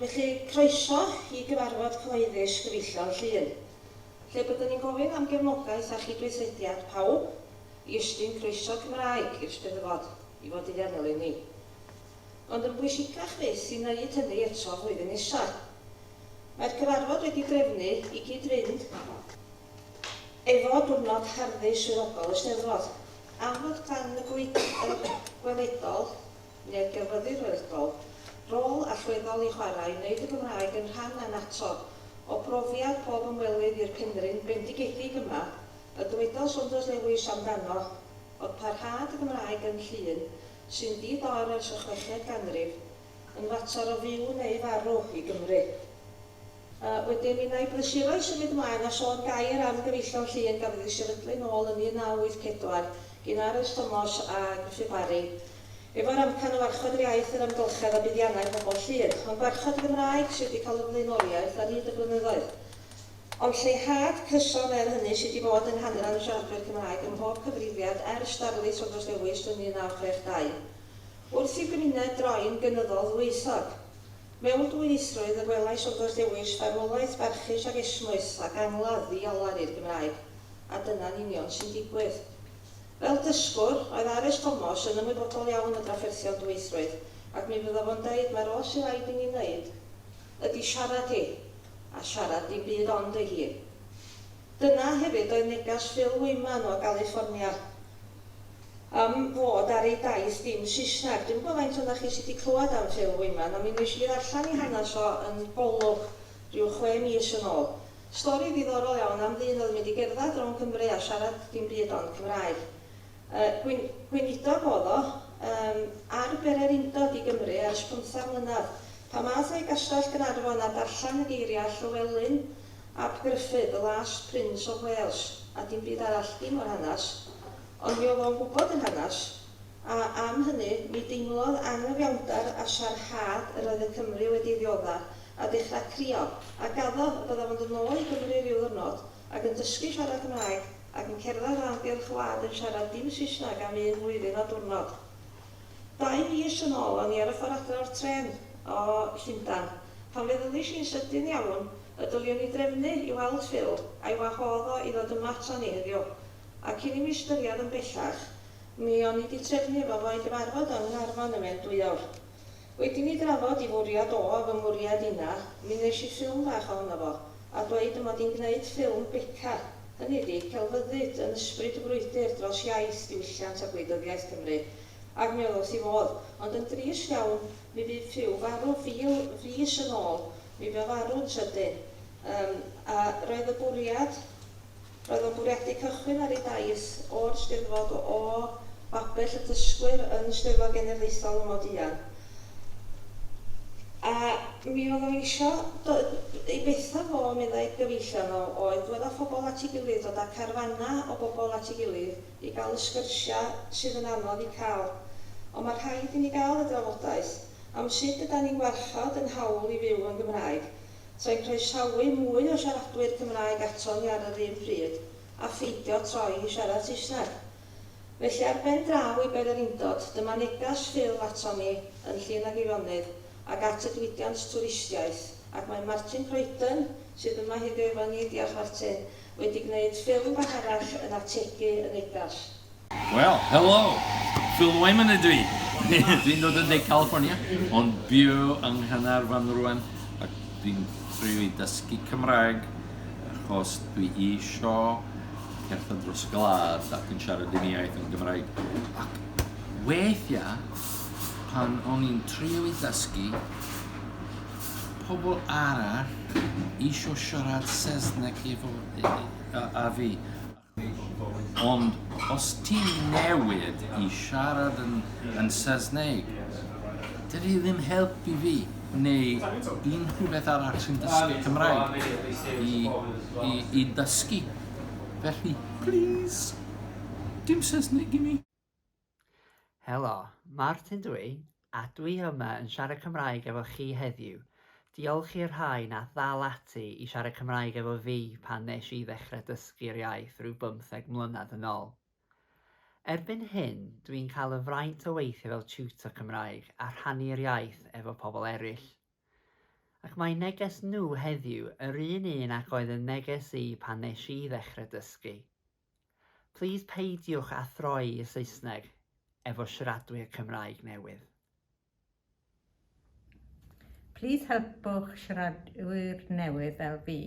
Felly, croeso i gyfarfod cyhoeddus gyfeillion Llŷn, lle byddwn ni'n gofyn am gefnogaeth a chydweithrediad pawb i ystyn croeso Cymraeg i'r Steddfod i fod i ddefnyl i ni. Ond yn bwysicach fyth i wneud hynny eto flwyddyn nesa. Mae'r cyfarfod wedi drefnu i gyd-fynd Efo diwrnod Herddi Swyddogol y Steddfod, amlwg dan y gweithwyr gweledol, neu'r gelfyddyd weledol, rôl allweddol i chwarae i wneud y Gymraeg yn rhan annatod o brofiad pob ymwelydd i'r penrhyn bendigedig yma, y dywedodd Saunders Lewis amdano fod parhad y Gymraeg yn llun sy'n di-dorn ers y chweched ganrif, yn fater o fyw neu farw i Gymru. A wedyn mi wna i brysuro'i symud mlaen a sôn gair am gyfeillion Llŷn gafodd ei sefydlu nôl yn 1984 gin Arys Tomos a Gruffydd Parry efo'r amcan o warchod yr iaith, yr amgylchedd a buddiannau pobl Llŷn. Ond gwarchod y Gymraeg sydd wedi cael y flaenoriaeth ar hyd y blynyddoedd. Ond lleihad cyson er hynny sydd wedi bod yng nghanran y siaradwyr Cymraeg ym mhob cyfrifiad ers darlith Saunders Lewis yn 1962. Wrth i gymuned droi'n gynyddol ddwyieithog. Mewn dwyieithrwydd y gwelais wrth oes dewis farwolaeth barchus ac esmwyth ac angladd i olar i'r Gymraeg, a dyna'n union sy'n digwydd. Fel dysgwr, oedd Arys Tomos yn ymwybodol iawn o drafferthion dwyieithrwydd, ac mi fydda fo'n deud mai'r oll sydd raid i ni wneud ydi siarad hi, a siarad dim byd ond ei hun. Dyna hefyd oedd neges Phil Wyman o Galiffornia am fod ar ei daith dim Saesneg. Dwi'm yn gwybod faint ohonoch chi sy' 'di clywed am Phil Wyman, ond mi wnes i ddarllen ei hanes o yn Golwg ryw chwe mis yn ôl. Stori ddiddorol iawn am ddyn oedd yn mynd i gerdded rownd Cymru a siarad dim byd ond Cymraeg. Gwyn, Gweinidog, oedd o, yym, ar bere'r undod i Gymru ers pymtheg mlynedd. Pan ddaeth o i Gastell Gaernarfon a darllen y geiriau Llywelyn ap Gruffydd, 'The Last Prince of Wales', a dim byd arall, dim o'r hanes, ond mi oedd o'n gwybod yr hanes, a am hynny, mi deimlodd anghyfiawnder a siarhad yr oedd y Cymry wedi ei ddiodda, a dechrau crio, a gaddo y byddaf o'n dod nôl i Gymru ryw ddyrnod, ac yn dysgu siarad Cymraeg ac yn cerdded a'r amgylch wlad yn siarad dim Saesneg am un flwyddyn a diwrnod. Dau fis yn ôl o'n i ar y ffordd adre o'r trên o Llundan pan feddyliais i'n sydyn iawn y dyliwn i drefnu i weld Phil a'i wahodd o i ddod yma aton ni heddiw a cyn i mi ystyried yn bellach mi o'n i 'di trefnu efo fo i gyfarfod yng Nghaernarfon yn Wen Dwyawr. Wed i mi drafod i fwriad o a fy mwriad inna, mi wnes i ffilm bach ohono fo, a dweud y mod i'n gneud ffilm Beca, hynny ydi, celfyddyd yn ysbryd y frwydr dros iaith, diwylliant a gwleidyddiaeth Cymru. Ac mi oedd wrth i fodd. Ond yn drist iawn, mi fu Phew farw fil fis yn ôl, mi fu o farw'n sydyn. Yym, a roedd y bwriad. Roedd o'n bwriadu cychwyn ar ei daith o'r Steddfod o o babell y dysgwyr yn Steddfod Genedlaethol y Moduan, a mi oedd o isio, do- ei betha fo, meddai, gyfeillion o, oedd dwad â phobl at ei gilydd, dod â carfanna o bobl at ei gilydd i gael y sgyrsiau sydd yn anodd eu cael. Ond mae rhaid i ni gael y drafodaeth am sut ydan ni'n gwarchod ein hawl i fyw yn Gymraeg, trwy croesawu mwy o siaradwyr Cymraeg ato ni ar yr un pryd a pheidio troi i siarad Saesneg. Felly ar ben draw i Bererindod, dyma neges Phil ato ni yn Llŷn ac Eifonydd ac at y diwydiant twristiaeth, ac mae Martin Croydon sydd yma heddiw efo ni, diolch Martin, wedi gwneud ffilm bach arall yn ategu y negas. Wel, helo! Phil Wyman ydw i. Dwi'n dod o De California, ond byw yng Nghanarfon rwan, ac dwi'n trio i dysgu Cymraeg, achos dwi isio cerdded dros gwlad ac yn siarad un iaith yn Gymraeg. Ac weithiau, pan o'n i'n trio i dysgu, pobl arall isio siarad Saesneg efo yy yy â fi ond os ti'n newid i siarad yn yn Saesneg dydi e ddim helpu fi neu unrhyw beth arall sy'n dysgu Cymraeg i i i dysgu felly plîs dim Saesneg i mi. Helo, Martin dw i, a dw i yma yn siarad Cymraeg efo chi heddiw. Diolch i'r rhai nath ddal ati i siarad Cymraeg efo fi pan nes i ddechrau dysgu'r iaith rhyw bymtheg mlynedd yn ôl. Erbyn hyn, dw i'n cael y fraint o weithio fel tutor Cymraeg a rhannu'r iaith efo pobl eraill. Ac mae neges nhw heddiw yr un un ac oedd yn neges i pan nes i ddechrau dysgu. Plîs peidiwch â throi y Saesneg efo siaradwyr Cymraeg newydd. Plîs helpwch siaradwyr newydd fel fi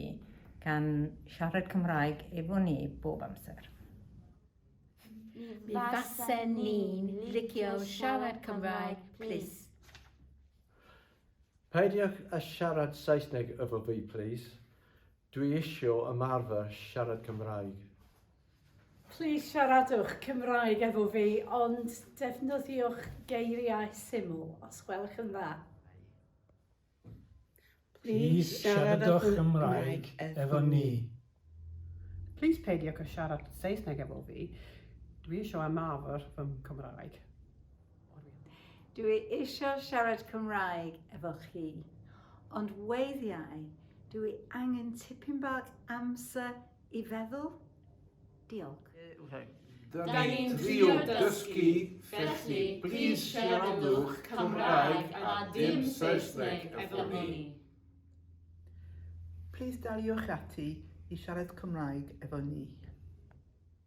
gan siarad Cymraeg efo ni bob amser. Mi fasen ni'n licio siarad Cymraeg plîs. Peidiwch â siarad Saesneg efo fi plîs. Dwi isio ymarfer siarad Cymraeg. Plîs siaradwch Cymraeg efo fi ond defnyddiwch geiriau syml os gwelwch yn dda. Plîs siaradwch Cymraeg efo ni. Plîs peidiwch â siarad Saesneg efo fi, dwi isio ymarfer fy Nghymraeg. Dw i eisiau siarad Cymraeg efo chi, ond weithiau dw i angen tipyn bach amser i feddwl. Diolch. Da ni'n trio dysgu, felly plîs siaradwch Cymraeg a dim Saesneg efo ni. Plîs daliwch ati i siarad Cymraeg efo ni.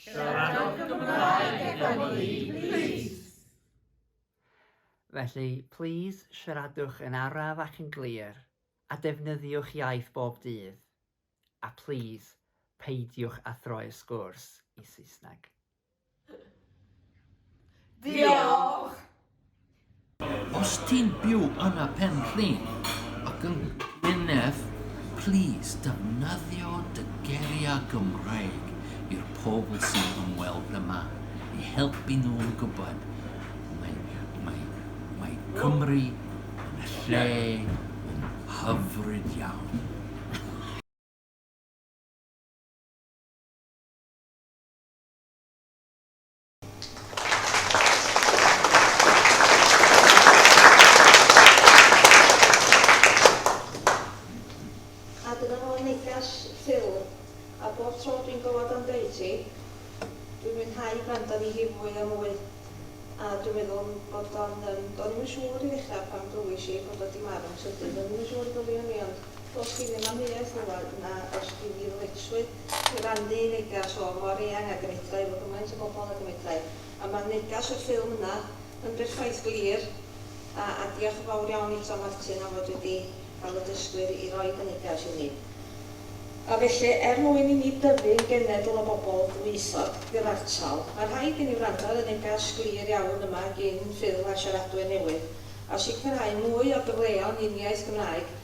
Siaradwch Gymraeg gyda ni, plîs! Felly, plîs siaradwch yn araf ac yn glir, a defnyddiwch iaith bob dydd. A plîs, peidiwch â throi'r sgwrs i Saesneg. Diolch! Os ti'n byw yn y Pen Rhyn ac yn Gwynedd, plîs defnyddio dy geiriau Gymraeg i'r pobl sy'n ymweld yma i helpu nhw gwybod mae Cymru yn y lle yn hyfryd iawn. A dyna fo neges Phil, a bob tro dwi'n dod am deud hi, dwi'n mwynhau gwrando arni hi fwy a mwy, a dwi'n meddwl bod o'n yym, do'n i'm yn siŵr i ddechrau pan glywais i bod o 'di marw'n sydyn, do'n i'm yn siŵr y byddwn i ond dos gin i am amheuaeth rŵan, na, dos gin i ddyletswydd Cyfandir y negas hon mor eang ag y medrai efo gymaint o bobl ag y medrai. A ma'r negas i'r ffilm yna yn berffaith glir. A, a diolch yn fawr iawn i Tom Martin am fod wedi cael y dysgwyr i roid y negas i ni. A felly, er mwyn i ni dyfu'n genedl o bobl dwyieithog gyfartal, ma' rhaid i ni wrando ar y negas glir iawn yma gin ffilm a siaradwyr newydd, a sicrhau mwy o gyfleon i'n iaith Gymraeg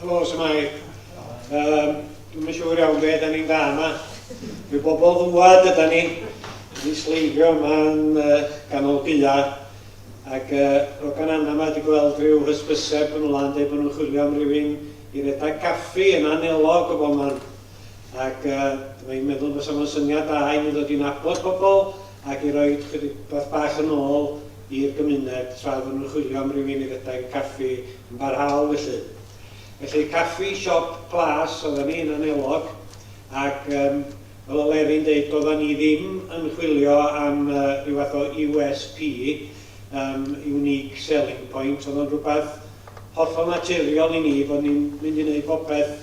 Helo, Samai. Um, Dwi'n mynd siŵr iawn beth da ni'n da yma. Mae bobl ddwad yda ni. Ni sleifio yma'n uh, ganol gyda. Ac uh, Rogan Anna yma wedi gweld rhyw hysbyseb yn wlan dweud bod nhw'n chwilio am rywun i redag caffi yn anelog o bob man. Ac uh, dwi'n meddwl bod sa'n syniad da i ni ddod i'n abod pobl ac i roi chydig beth bach yn ôl i'r gymuned tra oedden nhw'n chwilio am rywun i redeg caffi yn barhaol felly. Felly caffi siop plas oedden ni yn Anelog ac yym fel o Lerry'n deud doedden ni ddim yn chwilio am yy rhyw fath o USP yym unique selling point oedd o'n rhywbeth hollol naturiol i ni bod ni'n mynd i wneud popeth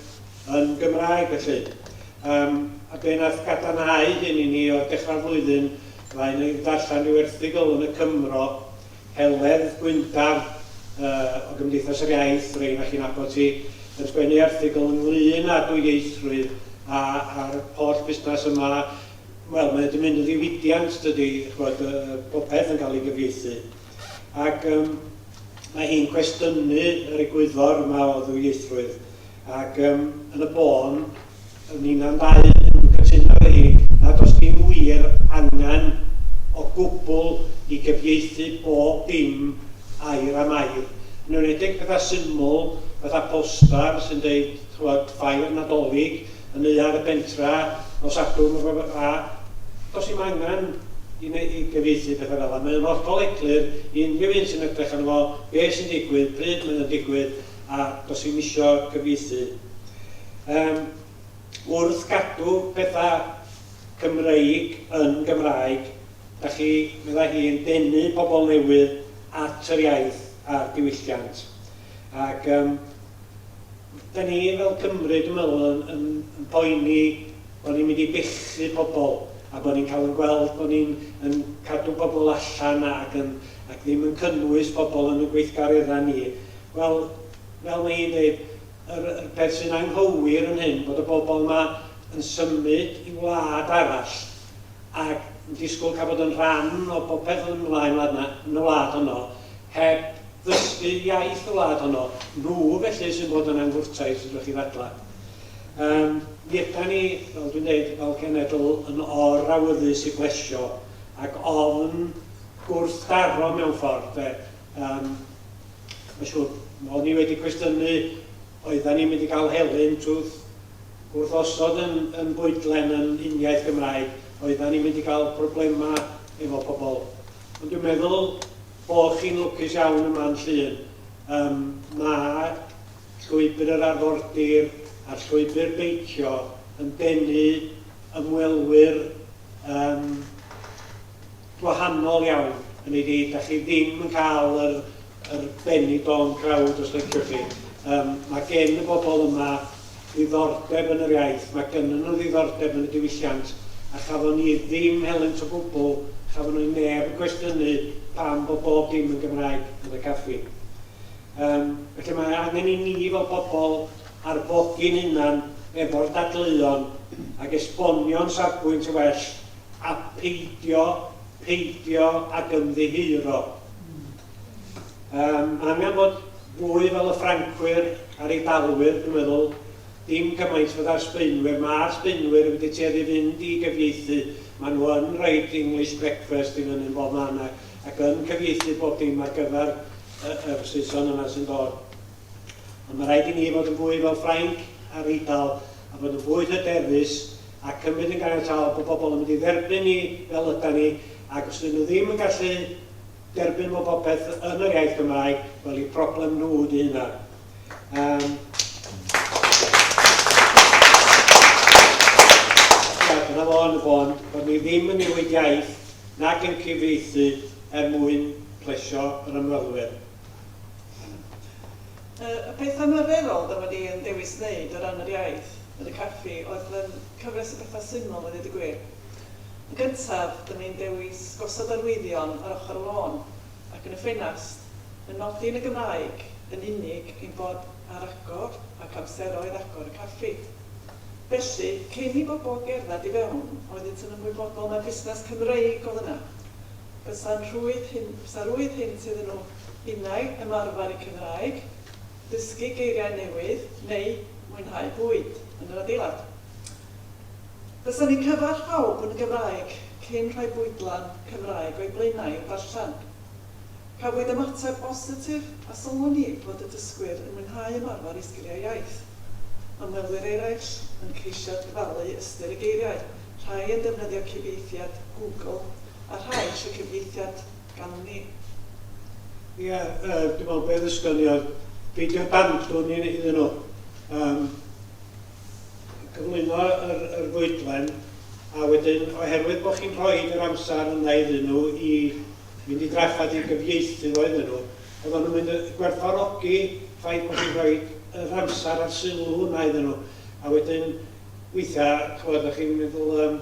yn Gymraeg felly. Yym, a be' nath gadarnhau hyn i ni oedd dechra'r flwyddyn mae un yn darllen ryw erthygl yn y Cymro, Heledd Gwyndaf yy o Gymdeithas yr Iaith, rei o'na chi'n nabod hi, yn sgwennu erthygl ynglŷn â dwyieithrwydd a a'r holl busnas yma, wel mae o 'di mynd yn ddiwydiant dydi, ch'mod yy yy popeth yn cael ei gyfieithu. Ac yym mae hi'n cwestiynu yr egwyddor yma o ddwyieithrwydd. ac yym yn y bôn ninna'n ddau yn cytuno efo hi na does dim wir angen o gwbl i gyfieithu bob dim air am air, yn enwedig pethau syml fatha poster sy'n deud ch'mod ffair Nadolig yn neuadd y bentra nos Sadwrn neu rywbeth fel 'a. Does dim angen i neu- i gyfieithu pethau fel 'a, mae o'n hollol eglur i unrhyw un sy'n edrych arno fo be' sy'n digwydd, pryd mae o'n digwydd, a does i'm isio cyfieithu. Yym, wrth gadw pethau Cymreig yn Gymraeg, da chi, meddai hi, yn denu pobl newydd at yr iaith a'r diwylliant. Ac yym, da ni fel Cymry, dwi'n meddwl, yn, yn, yn poeni bod ni'n mynd i bechu pobl a bod ni'n cael yn gweld bod ni'n yn cadw pobl allan ac, yn, ac ddim yn cynnwys pobl yn y gweithgareddau ni. Wel, fel mae hi'n dweud, yr yr peth sy'n anghywir yn hyn, bod y bobl yma yn symud i wlad arall ac yn disgwyl cael bod yn rhan o bopeth yn ymlaen wlad 'na, yn y wlad honno, heb ddysgu iaith y wlad honno. Nhw felly sy'n bod yn angwrtais, fedrwch chi ddadlau. Yym, mi ydan ni, fel dwi'n dweud, fel cenedl yn or-awyddus i blesio ac ofn gwrthdaro mewn ffordd, de. Yym, mae'n siŵr, mae o'n i wedi cwestiynu, oedden ni'n mynd i gael helynt twth wrth osod yn, yn bwydlen yn uniaith Gymraeg, oedden ni'n mynd i gael problemau efo pobl. Ond dwi'n meddwl bod chi'n lwcus iawn yma yn Llŷn. Um, mae llwybr yr arfordir a'r llwybr beicio yn denu ymwelwyr um, gwahanol iawn yn ei ddeud, dach chi ddim yn cael yr, yr benny bone crowd os liciwch chi. Um, mae gen y bobl yma ddiddordeb yn yr iaith, mae gynnon nhw ddiddordeb yn y diwylliant, a chafon ni ddim helynt o gwbl, chafon ni neb yn cwestiynu pam bod bob dim yn Gymraeg yn y caffi. Um, felly mae angen i ni fel pobl arfogi'n hunan efo'r dadleuon ac esbonio'n safbwynt yn well a pheidio, peidio ag ymddiheuro. Yym, angen bod fwy fel y Ffrancwyr a'r Eidalwyr, dwi'n meddwl, dim gymaint fydda'r Sbaenwyr. Mae'r Sbaenwyr yn wedi tueddu fynd i gyfieithu, maen nhw yn rhoid English breakfast i fyny'n bob man ac yn cyfieithu bob dim ar gyfer yr Saeson yna sy'n dod. Ond mae rhaid i ni fod yn fwy fel Ffrainc a'r Eidal a bod yn fwy hyderus a cymryd yn ganiataol bod pobl yn mynd i dderbyn ni fel ydan ni ac os ydyn nhw ddim yn gallu derbyn bod popeth yn yr iaith Gymraeg, wel i problem nhw ydy hynna. Um, dyna fo yn y bôn, bod ni ddim yn newid iaith nac yn cyfieithu er mwyn plesio yr ymwelwyr. Y peth anarferol dw i yn dewis wneud o ran yr iaith yn y caffi oedd fy cyfres o bethau syml i ddeud y gwir. Yn gyntaf, dw i'n dewis gosod arwyddion ar ochr y lôn ac yn y ffenast, yn nodi yn y Gymraeg yn unig ein bod ar agor ac amseroedd agor y caffi. Felly, cyn i bobl gerdded i fewn, oeddynt yn ymwybodol mai busnes Cymreig oedd yna. Bysa rhwydd hyn, bysa rhwydd hynt iddyn nhw innau ymarfer y Cymraeg, dysgu geiriau newydd neu mwynhau bwyd yn yr adeilad. Bysa ni'n cyfarch pawb yn Gymraeg cyn rhoi bwydlen Cymraeg o'u blaenau i'w darllen. Cafwyd ymateb bositif a sylwn ni fod y dysgwyr yn mwynhau ymarfer eu sgiliau iaith. Ymwelwyr eraill yn ceisio dyfalu ystyr y geiriau. rhai yn defnyddio cyfieithiad Google a rhai eisiau cyfieithiad gan ni. Ie, yy, dwi'n meddwl be ddisgyniodd beidio bandwn i- iddyn nhw yym gyflwyno yr yr fwydlen, a wedyn oherwydd bod chi'n rhoid yr amser yna iddyn nhw i fynd i drafferth i gyfieithu fo iddyn nhw, oeddan nhw'n mynd y- i gwerthfawrogi ffaith bod chi'n rhoid yr amser a'r sylw yna iddyn nhw, a wedyn Weithiau, ch'mod, dach chi'n meddwl yym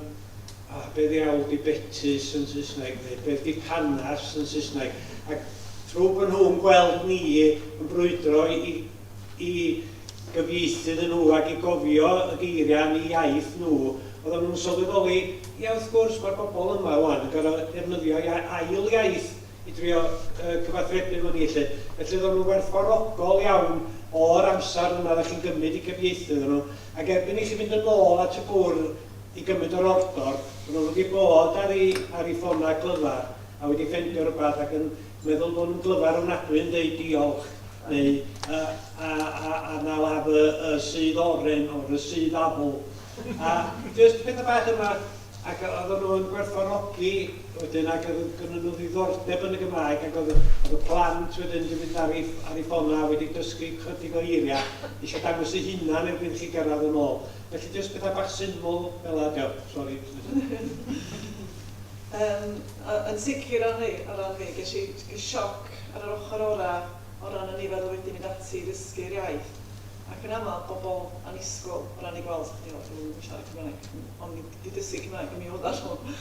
o be' ddiawl 'di betys yn Saesneg neu beth 'di panas yn Saesneg? Ac trw bo' nhw'n gweld ni yn brwydro i i gyfieithu iddyn nhw ac i gofio y geiriau yn eu iaith nhw, oeddan nhw'n sylweddoli, ia wrth gwrs, ma'r bobol yma ŵan yn gor'o' defnyddio ia- ail iaith i drio cyfathrebu efo ni 'lly. Felly oeddan nhw'n werthfawrogol iawn o'r amser yna oeddech chi'n gymryd i gyfieithu iddyn nhw, ac erbyn i chi fynd yn ôl at y bwrdd i gymryd yr ordor, oedden nhw wedi bod ar eu ar eu ffonau glyfar a wedi ffendio rywbeth ac yn meddwl bod nhw'n glyfar ofnadwy yn deud diolch neu yy a a a na la fy y sudd oren or y sudd afl a jyst petha bach yma. Ac oedden nhw yn gwerthfawrogi wedyn ac oedd gynnon nhw ddiddordeb yn y Gymraeg ac oedd oedd y plant wedyn wedi mynd ar ei ar ei ffonau wedi dysgu chydig o eiriau eisiau dangos ei hunan erbyn chi gyrraedd yn ôl. Felly jyst pethau bach syml fel yna dio. Sori. Yym yn sicr o ran hynny o ran hynny ges i sioc ar yr ochr orau o ran y nifer oedd wedi mynd ati i ddysgu'r iaith. ac yn aml pobl annisgwyl o ran eu gweld chdi o dwi'm yn siarad Cymraeg ond fi 'di dysgu Cymraeg ond mi oedda nhw.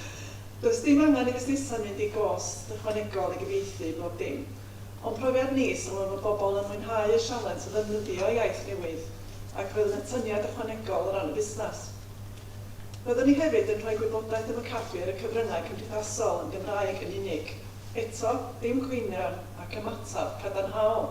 Does dim angen i fusnesau mynd i gost ychwanegol i gyfieithu bob dim. O'n profiad ni, sylwem fod bobl yn mwynhau y sialens o ddefnyddio iaith newydd ac roedd yn atyniad ychwanegol o ran y busnes. Roeddwn ni hefyd yn rhoi gwybodaeth am y caffi ar y cyfryngau cymdeithasol yn Gymraeg yn unig. Eto, dim cwynion ac ymateb cadarnhaol.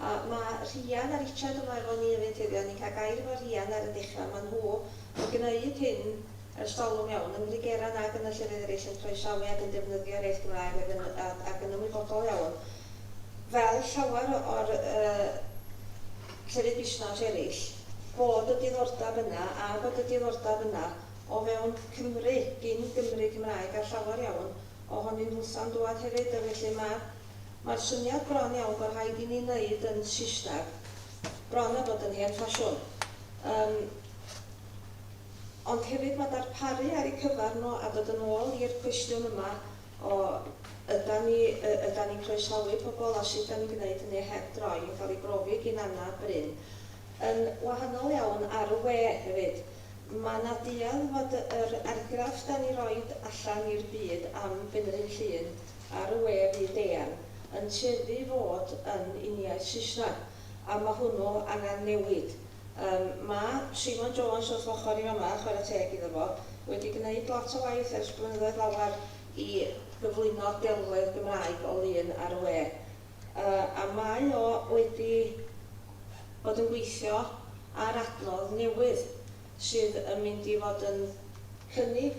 A ma Rhian a Richard yma efo ni efyd heddiw, o'n i'n cael gair efo Rhian ar y dechra, ma nhw yn gneud hyn ers talwm iawn, yn Ngrigera nag yn y llefydd erill, yn croesawu ag yn defnyddio'r iaith Gymraeg ag yn ag yn ymwybodol iawn, fel llawer o o'r yy llefydd busnas erill, bod y diddordab yna a bod y diddordab yna o fewn Cymru, gin Gymry Cymraeg a llawer iawn o honyn nhwtha'n dwad hefyd, a felly ma'r Mae'r syniad bron iawn bod rhaid i ni wneud yn Saesneg, bron a bod yn hen ffasiwn. Yym, ond hefyd mae darparu ar eu cyfer nhw, a dod yn ôl i'r cwestiwn yma o ydan ni, yy, ydan ni'n croesawu pobl a sut ydan ni'n gwneud hynny heb droi yn cael ei brofi gin Anna a Bryn. Yn wahanol iawn ar y we hefyd, mae 'na duedd fod yr argraff 'dan ni roid allan i'r byd am Fynryn Llŷn ar y we fyd eang yn tueddu i fod yn uniaith Saesneg, a ma hwnnw angan newid. Yym, ma Simon Jones wrth ochr i fama, chwarae teg iddo fo, wedi gneud lot o waith ers blynyddoedd lawer i gyflwyno delwedd Gymraeg o lun ar y we. Yy, a mae o wedi bod yn gweithio ar adnodd newydd sydd yn mynd i fod yn cynnig,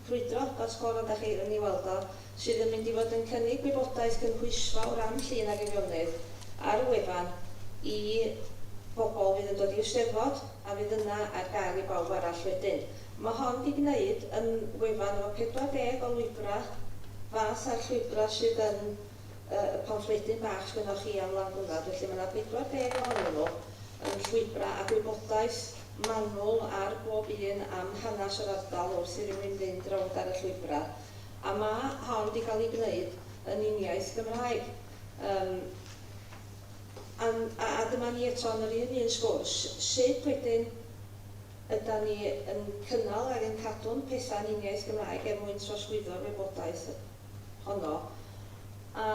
Ffrwydro, fel sgôr ond â chi yn ei weld o, sydd yn mynd i fod yn cynnig gwybodaeth gynhwysfawr am Llŷn ac Eifionnydd ar y wefan i bobl fydd yn dod i'r Steddfod a fydd yna ar gael i bawb arall wedyn. Mae hon 'di gwneud yn wefan efo 40 o lwybrau fath a'r llwybrau sydd yn y y pamffledyn bach sgynnoch chi am Landbwrdd, felly mae 'na 40 ohonyn nhw yn llwybrau a gwybodaeth manwl ar bob un am hanes yr ardal wrth i rywun fynd rownd ar y llwybrau, a ma' hon 'di cael ei gwneud yn uniaith Gymraeg. Yym an- a a dyma ni eto yn yr un un sgwrs, sut wedyn ydan ni yn cynnal ag yn cadw'n pethau'n uniaith Gymraeg er mwyn trosglwyddo'r wybodaeth honno, a,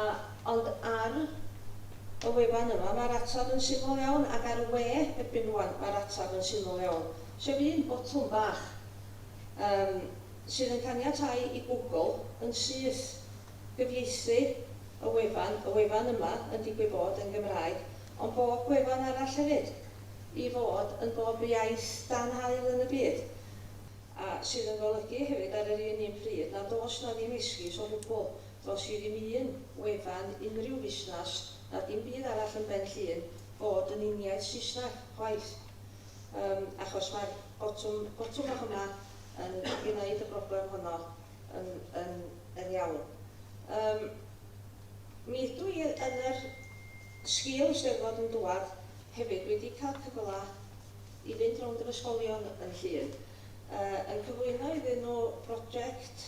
ond ar y wefan yma mae'r ateb yn syml iawn, ac ar y we erbyn rŵan mae'r ateb yn syml iawn, sef un botwm bach yym sydd yn caniatáu i Google yn syth gyfieithu y wefan, y wefan yma yn digwydd bod yn Gymraeg, ond bob gwefan arall hefyd, i fod yn bob iaith dan haul yn y byd. a sydd yn golygu hefyd ar yr un un pryd nad oes 'na ddim esgus o gwbl, does i ddim un wefan, unrhyw fusnas, na dim byd arall yn Ben Llŷn fod yn uniaith Saesneg, chwaith. Yym, achos mae'r botwm, botwm bach yma yn gneud y broblem honno yn, yn, yn iawn. Yym, mi ydw i yn yr sgil y Steddfod yn dwad hefyd wedi cael cyfla i fynd rownd yr ysgolion yn Llŷn, yn cyflwyno iddyn nhw broject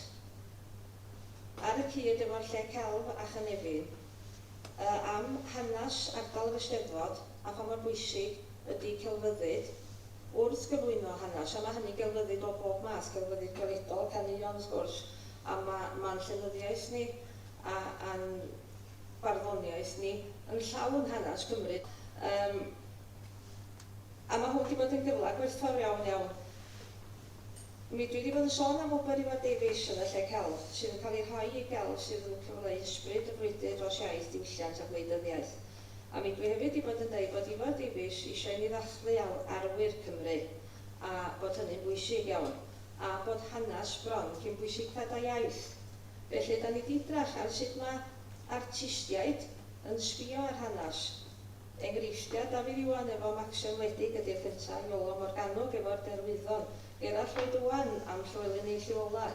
ar y cyd efo'r Lle Celf a Chynefin am hanes ardal yr Eisteddfod a pha mor bwysig ydy celfyddyd wrth gyflwyno hanes, a mae hynny'n gelfyddyd o bob math, celfyddyd gweledol, caneuon wrth gwrs, a mae'n llenyddiaeth ni a'n barddoniaeth ni yn llawn hanes Cymru. a ma' hwn 'di bod yn gyfla gwerthfawr iawn iawn mi. Dwi 'di bod yn sôn am wobr Iwan Davies yn y lle celf, sydd yn cael ei rhoi i gelf sydd yn cyfleu ysbryd y frwydr dros iaith, diwylliant a gwleidyddiaeth. A mi dwi hefyd 'di bod yn deud bod Iwan Davies isio i ni ddathlu aur arwyr Cymru, a bod hynny'n bwysig iawn, a bod hanes bron cyn bwysictad a iaith. Felly 'da ni 'di edrach ar sut ma' artistiaid yn sbio ar hanes, Enghreifftiau Dafydd Iwan efo Maxio Wledig ydi'r Feta, Iolo Morganwg efo'r Derwyddon, Gerallt Lloyd Owen am Llywelyn ei llu ola',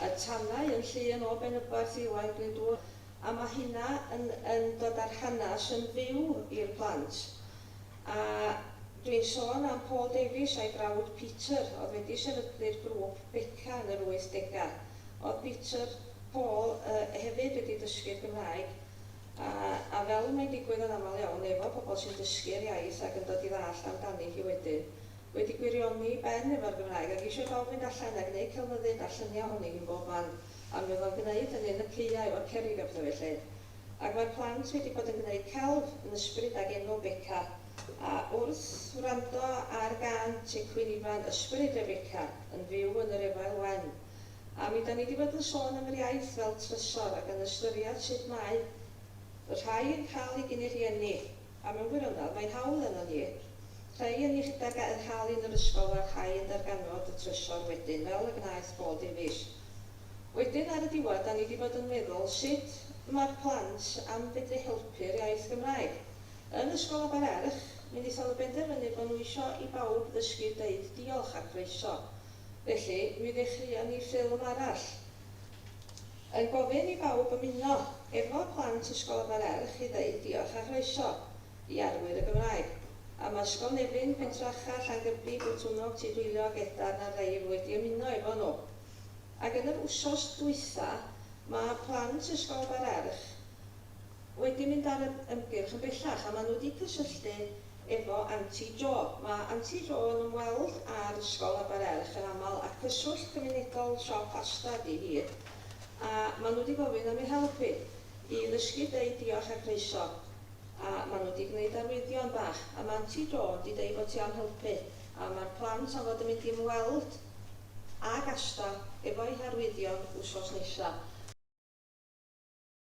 y Tanau yn Llŷn o Benybarth i Owain Glyndŵr, a ma' hynna yn yn dod â'r hanas yn fyw i'r plant. A dwi'n sôn am Paul Davies a'i frawd Peter o'dd wedi sefydlu'r grŵp Beca yn yr wyth dega'. O'dd Peter, Paul, yy hefyd wedi dysgu'r Gymraeg. a a fel y mae'n digwydd yn aml iawn efo pobl sy'n dysgu'r iaith ac yn dod i ddallt amdani hi wedyn, wedi gwirioni'i ben efo'r Gymraeg ac eisiau bawb fynd allan a gneud celfyddyd a lluniau ohoni hi'n bob man a mi oedd o'n gneud hynny yn y caeau efo'r cerrig a pethau felly ac mae'r plant wedi bod yn gneud celf yn ysbryd ag enw Beca a wrth wrando ar gân Tŷ Cwyn Ifan Ysbryd Rebeca yn fyw yn yr Efail Wen A mi 'dan ni 'di bod yn sôn am yr iaith fel trysor ac yn ystyriad sut mae y rhai yn cael ei gyn ei rhieni, a mewn gwirionedd mae'n hawl arnon ni, rhei yn ei rhedeg a'u hal yn yr ysgol a'r rhai yn darganfod y trysor wedyn fel y gwnaeth Paul Davies. Wedyn ar y diwedd 'dan ni 'di bod yn meddwl sut mae'r plant am fedru helpu'r iaith Gymraeg. Yn Ysgol Abererch mi 'nithon nhw benderfynu bod nhw isio i bawb ddysgu deud diolch a croeso. Felly, mi ddechreuon ni ffilm arall. Yn gofyn i bawb ymuno efo plant Ysgol Abererch i ddeud diolch a chroeso i arwyr y Gymraeg. A ma' Ysgol Nefyn, Pentracha, Llangybi, Botwnnog, Tudweiliog, Edarn a Rheil wedi ymuno efo nhw. Ac yn yr wsos dwytha, ma' plant Ysgol Abererch, wedi mynd ar yr ymgyrch yn bellach a maen nhw wedi cysylltu efo Anti Jo. Mae Anti Jo yn ymweld â'r ysgol a Bar Erch yn aml a cyswllt cymunedol siop Asda ydi hi a maen nhw wedi gofyn am ei help hi i ddysgu deud diolch a croeso a maen nhw wedi gwneud arwyddion bach a mae Anti Jo wedi deud bod hi am helpu a mae'r plant am fod yn mynd i ymweld ag Asda efo'u harwyddion wsos nesa'.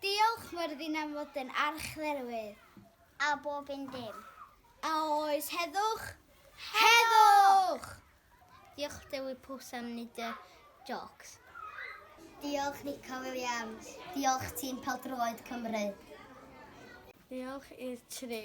Diolch Myrddin am fod yn archdderwydd. A bob un dim. A oes heddwch? Heddwch! Diolch Dewi Pws am nid y jocs. Diolch Nico Williams. Diolch tîm Peldroed Cymru. Diolch i'r tri.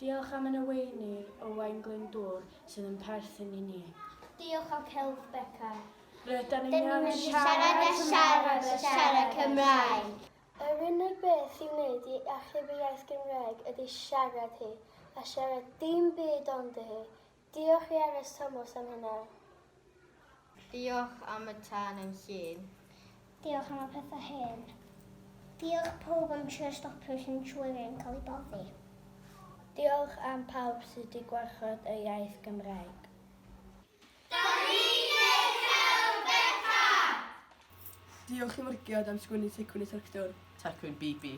Diolch am y neweini o Waun Glyndŵr sydd yn perthyn i ni. Diolch am celf Beca. Rydan ni'n iawn yn siarad a siarad a siarad Cymraeg! Yr unig beth i wneud i achub y iaith Gymraeg ydy siarad hi, a siarad dim byd ond hi. Diolch i Erys Thomas am hynna. Diolch am y tân yn llun. Diolch am y pethau hen. Diolch pawb am trio stopio Centurion yn cael ei boddi. Diolch am pawb sydd di gwarchod y iaith Gymraeg. Diolch i Morged am sgwennu Tecwyn y Tractor. Tecwyn BB.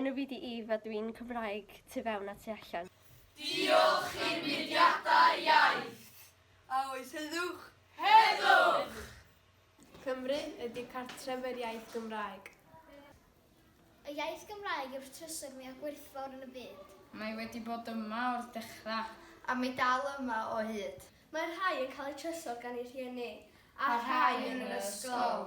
Enw fi di Eve a dwi'n Cymraeg tu fewn a tu allan. Diolch i'r mudiadau iaith. A oes heddwch? Heddwch! Cymru ydy cartref yr iaith Gymraeg. Y iaith Gymraeg yw'r trysor mwyaf gwerthfawr yn y byd. Mae wedi bod yma o'r dechrau. A mae dal yma o hyd. Mae rhai yn cael eu trysor gan eu rhieni. A rhai yn yr ysgol.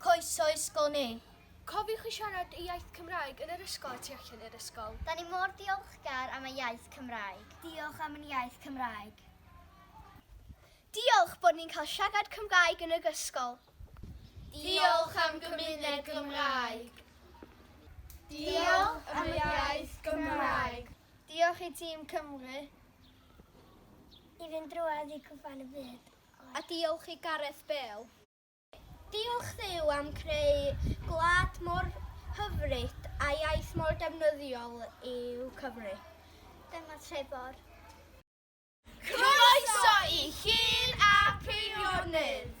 Coesau ysgol neu. Cofiwch i siarad y iaith Cymraeg yn yr ysgol a tu allan i'r ysgol. Da ni mor ddiolchgar am y iaith Cymraeg. Diolch am yn iaith Cymraeg. Diolch bod ni'n cael siarad Cymraeg yn yr ysgol. Diolch am gymuned Gymraeg. Diolch am y iaith Gymraeg. Diolch i Tîm Cymru. I fynd drwodd i cwpan y byd. A diolch i Gareth Bale. Diolch Dduw am creu gwlad mor hyfryd a iaith mor defnyddiol yw Cymru. Dyma Trebor. Croeso i Llŷn a Pheirionydd!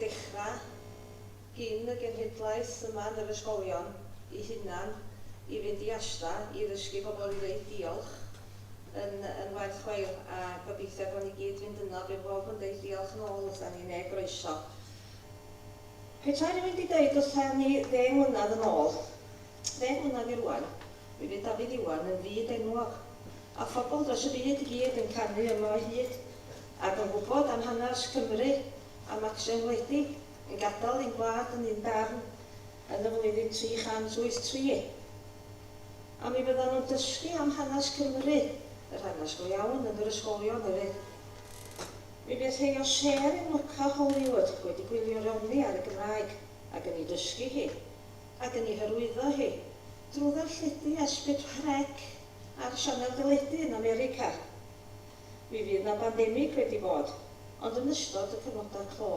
dechrau gin y genhedlaeth yma yn yr ysgolion eu hunan i fynd i ASDA i ddysgu pobl i ddeud diolch yn yn werth chweil a gobeithio gawn ni gyd fynd yno bydd bawb yn deud diolch yn ôl wrtha ni ne groeso. Petai rywun di deud wrtha ni ddeng mlynadd yn ôl, ddeng mlynadd i rŵan, mi fydd Dafydd Iwan yn fyd enwog a phobl dros y byd i gyd yn canu yma o hyd Ac yn gwybod am hanes Cymru a Macsen wledig yn gadael ein gwlad yn un darn yn y flwyddyn 383. A mi fyddan nhw'n dysgu am hanes Cymru, yr hanes go iawn, yn yr ysgolion hefyd. Mi fydd rhei o sêr yn lwco Hollywood wedi gwylio'r Elni ar y Gymraeg ac yn ei dysgu hi, ac yn ei hyrwyddo hi, drwy ddarlledu Esbit Rheg ar sianel deledu yn America. Mi fydd 'na bandemig wedi bod, ond yn ystod y cyfnodau clo,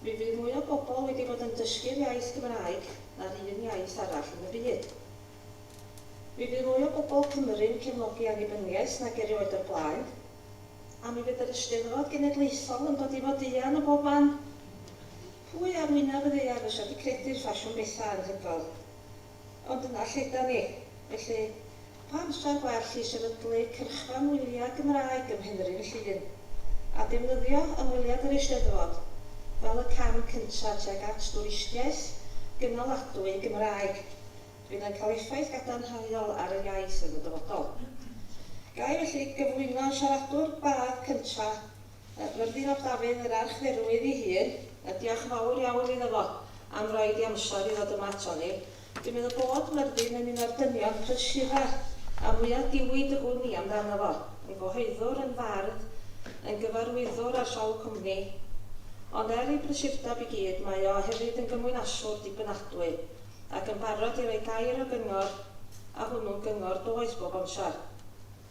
mi fydd mwy o bobl wedi bod yn dysgu'r iaith Gymraeg na'r un iaith arall yn y byd. Mi fydd mwy o bobl Cymru'n cefnogi annibyniaeth nag erioed o'r blaen, a mi fydd yr Eisteddfod Genedlaethol yn dod i fod eang ym mhob man. Pwy ar wyneb y ddaear fysa 'di credu'r ffasiwn betha' anhygoel Ond dyna lle 'dan ni. Felly, pa amser gwell i sefydlu cyrchfan wyliau Gymraeg ym Mhenrhyn Llŷn, a defnyddio ymweliad yr Eisteddfod fel y cam cyntaf tuag at dwristiaeth gynaladwy Gymraeg, fydd yn cael effaith gadarnhaol ar yr iaith yn y dyfodol. Ga i felly gyflwyno siaradwr badd cyntaf Yy mae'r Ddiod Dafydd yr Archdderwydd ei hun, a diolch fawr iawn iddo fo am roid i amser i ddod yma aton ni. Dwi'n meddwl bod Myrddin yn un o'r dynion prysura a mwya diwyd y gwn i amdano fo, yn gyhoeddwr, yn fardd, yn gyfarwyddwr ar sawl cwmni. Ond er ei brysurdeb i gyd mae o hefyd yn gymwynaswr dibynadwy ac yn barod i roi gair o gyngor a hwnnw'n gyngor doeth bob amser.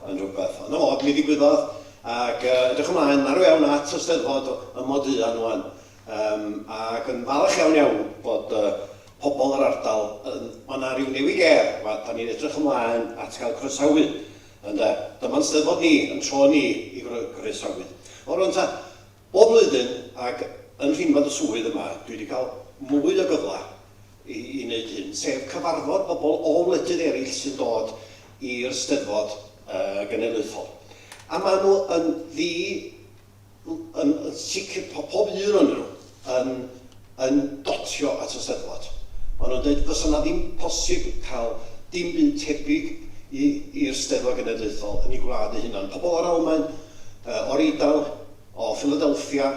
Mae'n rhywbeth yn od mi ddigwyddodd ac edrych ymlaen marw iawn at y Steddfod ym Mhoduan ŵan yym ac yn falch iawn iawn bod yy pobl yr ardal yn ma' 'na ryw newid ger ma' 'dan ni'n edrych ymlaen at gael croesawu ynde dyma'n Steddfod ni yn tro ni i groesawu. O rŵan ta, Bob blwyddyn, ac yn rhinwedd y swydd yma, dwi wedi cael mwy o gyfle i i wneud hyn, sef cyfarfod pobl o wledydd eraill sy'n dod i'r Steddfod Genedlaethol. A maen nhw yn ddi- yn sicr, pob un ohonyn nhw yn yn dotio at y Steddfod. Maen nhw'n deud fysa 'na ddim posib cael dim byd tebyg i i'r Steddfod Genedlaethol yn eu gwlad eu hunain. Pobl o'r Almaen, yy o'r Eidal, o Philadelphia,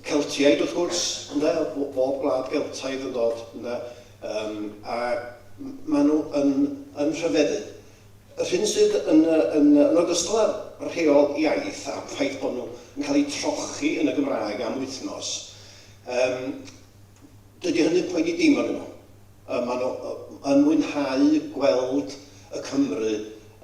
Celtiaid wrth gwrs, ynde, b- bob gwlad Geltaidd yn dod, ynde, yym a m- maen nhw yn yn rhyfeddu. Yr hyn sydd yn yy yn yy yn ogystal â'r rheol iaith a'r ffaith bod nhw yn cael eu trochi yn y Gymraeg am wythnos, Um, dydy hynny'n poeni dim arnyn nhw. Um, maen nhw yn mwynhau gweld y Cymry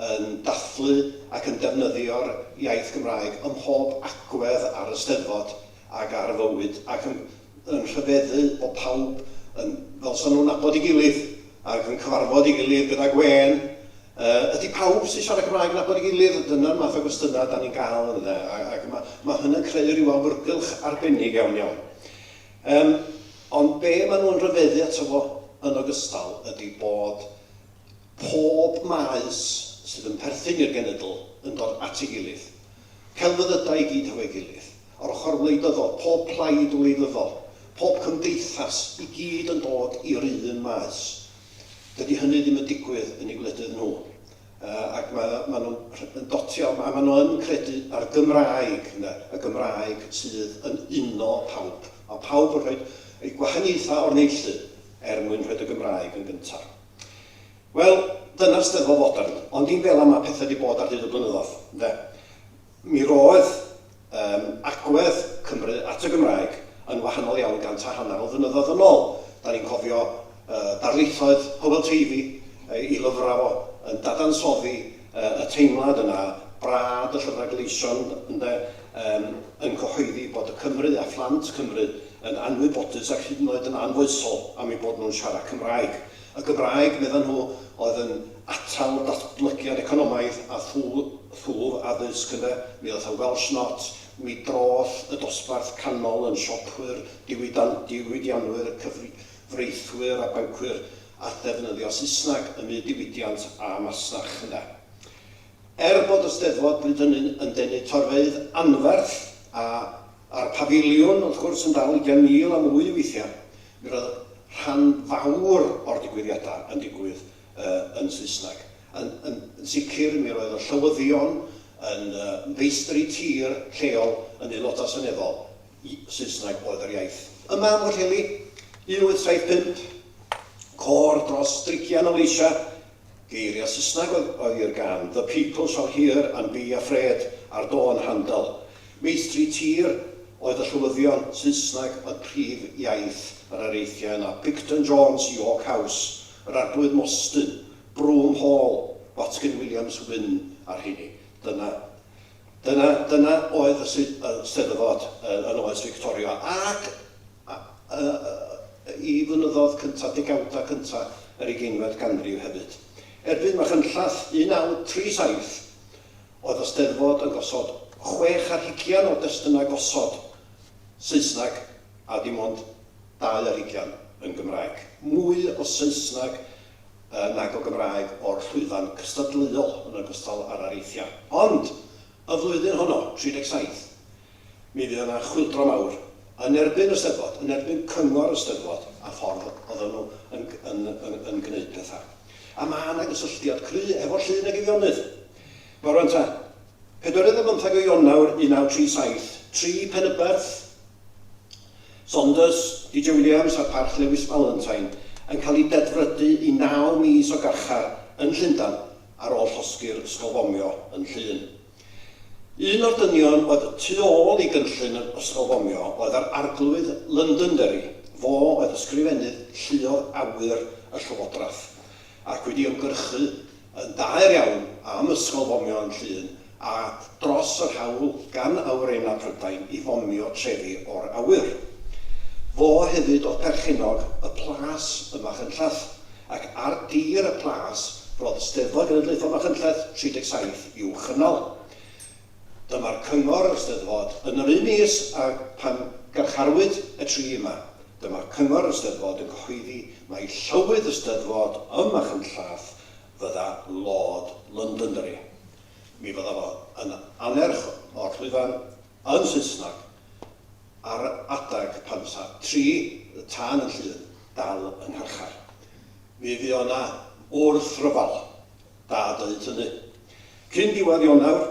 yn dathlu ac yn defnyddio'r iaith Gymraeg ym mhob agwedd ar y Steddfod ac ar y fywyd ac yn, yn rhyfeddu bod pawb yn, fel sa'n nhw'n nabod ei gilydd. ac yn cyfarfod ei gilydd gyda gwên, yy, ydy pawb sy'n siarad Cymraeg yn nabod ei gilydd? Dyna'r math o gwestiynau dan ni'n gael yn ynde, a- ac ma' ma' hynna'n creu rhyw awyrgylch arbennig iawn iawn. Yym, ond be maen nhw'n rhyfeddu ato fo yn ogystal ydy bod pob maes sydd yn perthyn i'r genedl yn dod at ei gilydd, celfyddydau i gyd hefo'i gilydd, Yr ochr wleidyddol, pob plaid wleidyddol, pob cymdeithas, i gyd yn dod i'r un maes. Dydy hynny ddim yn digwydd yn eu gwledydd nhw. Ac mae maen nhw'n yn dotio, a maen nhw yn credu a'r Gymraeg, ynde, y Gymraeg sydd yn uno pawb. Mae pawb yn rhoi eu gwahaniaethau o'r neilltu er mwyn rhoi y Gymraeg yn gyntaf. Wel, dyna'r Steddfod fodern, ond dim fel yma pethau wedi bod ar hyd y blynyddoedd, ynde. Mi roedd yym agwedd Cymru at y Gymraeg yn wahanol iawn gant a hanner o flynyddoedd yn ôl. Dan ni'n cofio yy darlithoedd Hywel Teifi, ei ei lyfrau o, yn dadansoddi yy y teimlad yna, brad y llyfrau gleision, ynde, yym yn cyhoeddi bod y Cymry a phlant Cymru yn anwybodus ac hyd yn oed yn anfoesol am eu bod nhw'n siarad Cymraeg. Y Gymraeg, meddan nhw, oedd yn atal datblygiad economaidd a thwf addysg ynde, mi ddoth y Welsh Not, mi droth y dosbarth canol yn siopwyr, diwydianwyr, cyfreithwyr a bancwyr a ddefnyddio Saesneg ym myd diwydiant a masnach ynde. Er bod y Steddfod bryd hynny'n yn denu torfeydd anferth, a a'r Pafiliwn wrth gwrs yn dal ugain mil a mwy weithiau, Mi roedd rhan fawr o'r digwyddiadau yn digwydd yn Saesneg. Yn yn sicr mi roedd y llywyddion yn feistri tir lleol yn Aelodau Seneddol, Saesneg oedd yr iaith. Yma yng Nghwllheli, 1875, côr dros drigian o leisiau Geiriau Saesneg oedd oedd i'r gân, The peoples are here and be afraid, ar dôn Handel. Meithri tir oedd y llywyddion, Saesneg oedd prif iaith yr areithiau yna, Picton Jones, York House, yr Arglwydd Mostyn, Broom Hall, Watkin Williams, Wynne, a'r rheini. Dyna. Dyna, dyna oedd y sy- y Steddfod yy yn oes Fictoria ac a- y- y- y- i flynyddodd cynta, degawda cynta yr ugeinfed ganrif hefyd. Erbyn Machynlleth 1937 oedd y Steddfod yn gosod chwech ar hugian o destynnau gosod Saesneg a dim ond dau ar hugian yn Gymraeg. Mwy o Saesneg yy nag o Gymraeg o'r llwyfan cystadleuol yn ogystal â'r areithiau. Ond, y flwyddyn honno, 37, mi fuodd yna chwyldro mawr yn erbyn y Steddfod, yn erbyn cyngor y Steddfod a'r ffordd oedden nhw yn yn yn yn gwneud pethau. A ma' 'na gysylltiad cry' efo Llŷn ag Eifionydd. Nawr rŵan ta, pedwerydd ar bymtheg o Ionawr 1937, tri Penyberth, Saunders, DJ Williams a Parch Lewis Valentine yn cael eu dedfrydu i naw mis o garchar yn Llundain ar ôl llosgi'r ysgol fomio yn Llŷn. Un o'r dynion oedd tu ôl i gynllun yr ysgol fomio oedd yr Arglwydd Londonderry, fo oedd ysgrifennydd lluoedd awyr y llywodraeth. ac wedi ymgyrchu yn daer iawn am ysgol fomio yn Llŷn a dros yr hawl gan awyrennau Prydain i fomio trefi o'r awyr. Fo hefyd oedd perchennog y plas ym Machynlleth, ac ar dir y plas roedd Steddfod Genedlaethol Machynlleth 37 i'w chynnal. Dyma'r cyngor y Steddfod yn yr un mis â phan garcharwyd y tri yma, Dyma Cyngor y Steddfod yn cyhoeddi mai Llywydd y Steddfod ym Machynlleth fydda Lord Londonderry. Mi fydda fo yn annerch o'r llwyfan yn Saesneg ar adeg pan fysa tri y tân yn Llŷn dal yng ngharchar. Mi fy o 'na wrthryfel Da deud hynny. Cyn diwedd Ionawr,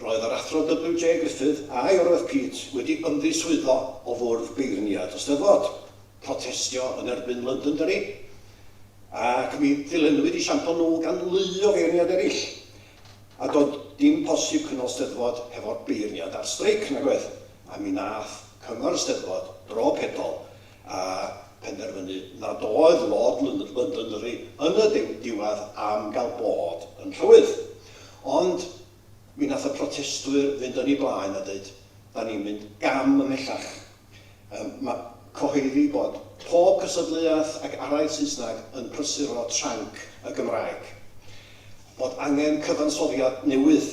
roedd yr Athro WJ Griffith, a'i oroedd Pete, wedi ymddiswyddo o Fwrdd Beirniad y Steddfod. Protestio yn erbyn Londonderry. Ac mi ddilennwyd i siampl nhw gan lu o feirniad eraill. A doedd dim posib cynnal Steddfod hefo'r beirniad ar streic, nag oedd? A mi nath Cyngor y Steddfod, dro pedol, a phenderfynu nad oedd Lord Londonderry yn y diwedd am gael bod yn rhywydd. Ond mi nath y protestwyr fynd yn ei blaen a deud, da ni'n mynd gam ymhellach. Yym ma cyhoeddi bod pob cystadleuaeth ac araith Saesneg yn prysuro tranc y Gymraeg. Bod angen cyfansoddiad newydd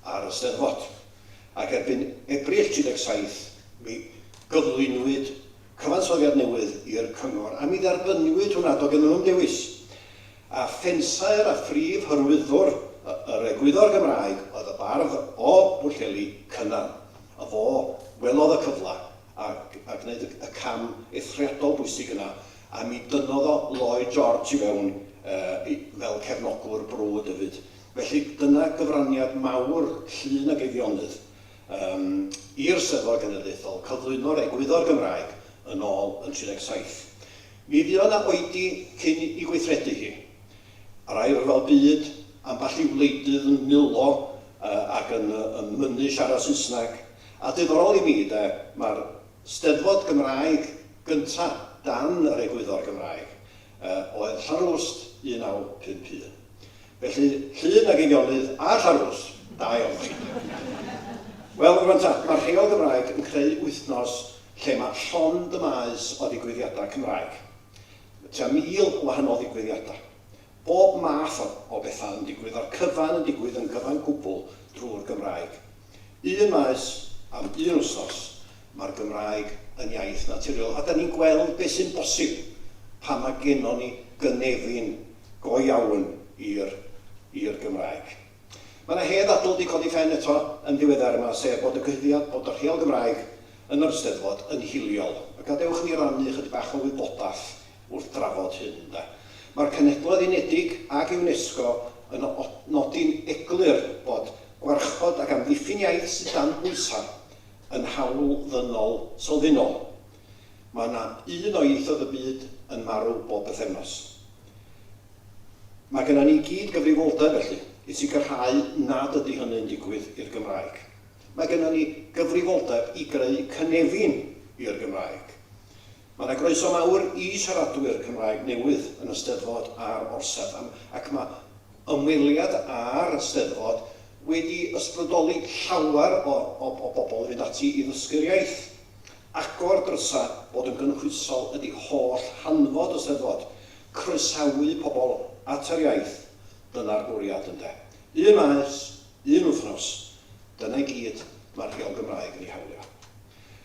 ar y Steddfod. ac erbyn Ebrill 17 mi gyflwynwyd cyfansoddiad newydd i'r Cyngor a mi dderbyniwyd hwnna, doedd gennym nhw ddim dewis. A phensaer a phrif hyrwyddwr yr egwyddor Gymraeg oedd y bardd o Bwllheli, Cynan, a fo welodd y cyfle a a gwneud y y cam eithriadol bwysig yna a mi dynnodd o Lloyd George i fewn yy i fel cefnogwr brwd hefyd. Felly, dyna gyfraniad mawr Llŷn ag Eifionydd yym i'r Steddfod Genedlaethol, cyflwyno'r egwyddor Gymraeg yn ôl yn 37. Mi fuodd 'na oedi cyn 'i gweithredu hi. Yr Ail Ryfel Byd, ambell i wleidydd yn mulo yy ac yn yy yn mynnu siarad Saesneg. A diddorol i mi, 'de, ma'r Steddfod Gymraeg gynta' dan yr egwyddor Gymraeg, oedd Llanrwst 1951. Felly, Llŷn ag Eifionydd a Llanrwst, da iawn chi. Wel, rwan ta, mae'r Rheol Gymraeg yn creu wythnos lle mae llond y maes o ddigwyddiadau Cymraeg. Mae tua 1,000 o wahanol ddigwyddiadau. Bob math o bethau yn digwydd, a'r cyfan yn digwydd yn gyfan gwbl drwy'r Gymraeg. Un maes am un wsos, mae'r Gymraeg yn iaith naturiol a da ni'n gweld beth sy'n bosib pan mae gennon ni gynefin go iawn i'r i'r Gymraeg. Mae yna hen ddadl wedi codi pen eto yn ddiweddar yma, sef bod y cyhuddiad bod y Rheol Gymraeg yn yr Eisteddfod yn hiliol. A gadewch i ni rannu ychydig bach o wybodaeth wrth drafod hyn, ynde. Mae'r Cenhedloedd Unedig ac UNESCO yn nodi'n eglur bod gwarchod ac amddiffyn iaith sydd dan bwysau yn hawl ddynol sylfaenol. Mae yna un o ieithoedd y byd yn marw bob pythefnos. Mae gennym ni i gyd gyfrifoldeb, felly, i sicrhau nad ydy hynny'n digwydd i'r Gymraeg. Mae gennym ni gyfrifoldeb i greu cynefin i'r Gymraeg. Mae yna groeso mawr i siaradwyr Cymraeg newydd yn y Steddfod a'r Orsedd am ac mae ymweliad â'r Steddfod wedi ysbrydoli llawer o o bobl i fynd ati i ddysgu'r iaith. Agor drysa bod yn gynhwysol ydi holl hanfod y Steddfod, croesawu pobl at yr iaith, dyna'r bwriad ynde? Un maes, un wythnos, dyna i gyd mae'r Rheol Gymraeg yn ei hawlio.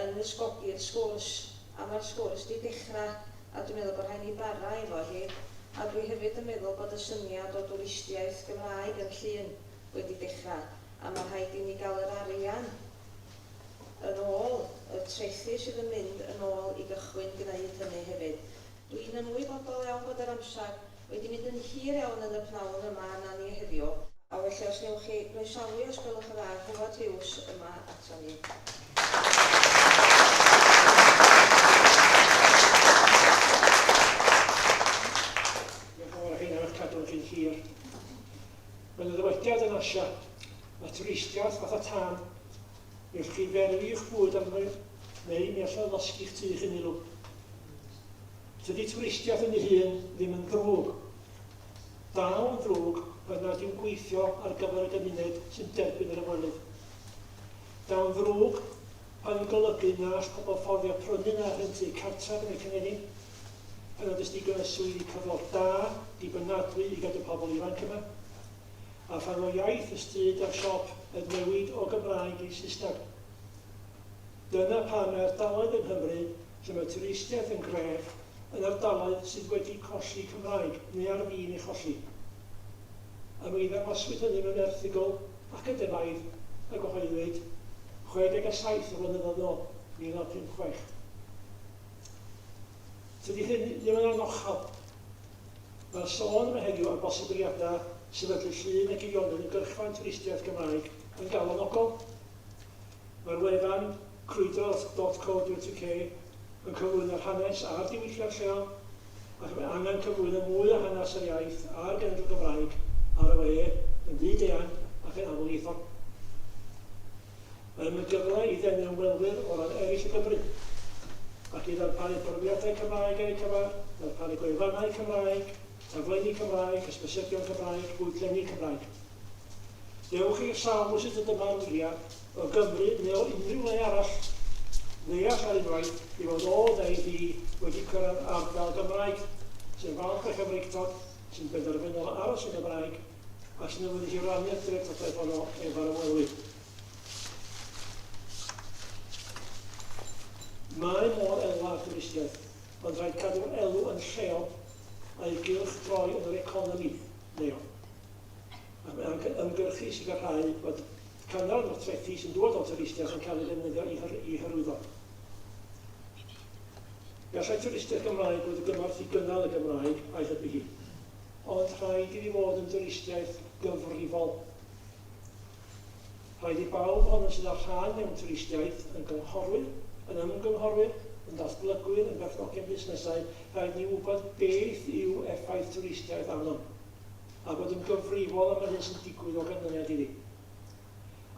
yn nysgogi'r sgwrs, a mae'r sgwrs 'di dechra, a dwi'n meddwl bod rhaid ni bara efo hi, a dwi hefyd yn meddwl bod y syniad o dwristiaeth Gymraeg yn Llŷn wedi dechra, a ma' rhaid i ni ga'l yr arian yn ôl, y trethi sydd yn mynd yn ôl i gychwyn gneud hynny hefyd. Dwi'n ymwybodol iawn bod yr amsar wedi mynd yn hir iawn yn y pnawn yma arna ni heddiw. A felly os newch chi groesawu, os gwelwch yn dda, Howard Hughes yma aton ni. Diolch yn fawr, rheina o'dd cadw chi'n hir. Mae 'na ddywediad yn Asia, mae twristiaeth fatha tân, newch chi ferwi 'ych bwyd arno fe, neu mi allai losgi'ch tŷ chi'n ulw. Tydi twristiaeth yn ei hun ddim yn ddrwg. Dal yn ddrwg oedd nad yw'n gweithio ar gyfer y gymuned sy'n derbyn yr ymwelydd. Daw'n ddrwg oedd yn golygu na all pobl fforddio prynu na rhentu cartref yn y cynefin, pan nad oes digon o swyddi cyflog da, dibynadwy i gadw pobl ifanc yma, a phan fo iaith y stryd a'r siop yn newid o Gymraeg i Saesneg. Dyna pam mae ardaloedd yng Nghymru lle mae twristiaeth yn gref yn ardaloedd sydd wedi colli Cymraeg neu ar fin ei cholli. A mi ddangoswyd hynny mewn erthygl academaidd a gyhoeddwyd 67 o flynyddoedd yn ôl, 1956. Tydi hyn ddim yn anochel. Mae'r sôn yma heddiw am bosibiliadau sefydlu llun a geirionydd yn gyrchfan twristiaeth Gymraeg yn galonogol. Mae'r wefan, crwydrodd dot co dot uk, yn cyflwyno'r hanes a'r diwylliant lleol, ac mae angen cyflwyno mwy o hanes yr iaith a'r genedl Gymraeg ar y we yn fyd-eang ac yn amlieithog. Mae'n yn gyfle i ddenu ymwelwyr o ran eraill o Gymru, ac i ddarparu portreadau Cymraeg ar eu cyfer, darparu gwefannau Cymraeg, taflenni Cymraeg, hysbysebion Cymraeg, bwydlenni Cymraeg. Dewch i'r sawl o sut y dyma'r wyliau, o Gymru neu o unrhyw le arall, ddeall ar unwaith ei fod o neu hi wedi cyrraedd ardal Gymraeg, sy'n falch o'i Chymreictod, sy'n benderfynol o aros yn Gymraeg, ac sy'n awyddus i rannu'r treftadaeth honno efo'r ymwelwyr. Mae modd elwa ar dwristiaeth, ond rhaid cadw'r elw yn lleol, a'i gylchdroi yn yr economi leol. ac am ymgyrchu i sicrhau bod cynnal y trethi sy'n dod o'n twristiaid yn cael ei ddefnyddio i, hyr, i hyrwyddo. Gallai twristiaid Gymraeg fod y gymorth i gynnal y Gymraeg a'i hybu hi, ond rhaid iddi fod yn dwristiaeth gyfrifol. Rhaid i bawb ohonom sydd â rhan mewn twristiaeth, yn gynghorwyr, yn ymgynghorwyr, yn datblygwyr, yn berchnogion busnesau, rhaid ni wybod beth yw effaith twristiaeth arnom. a bod yn gyfrifol am yr hyn sy'n digwydd o ganlyniad iddi.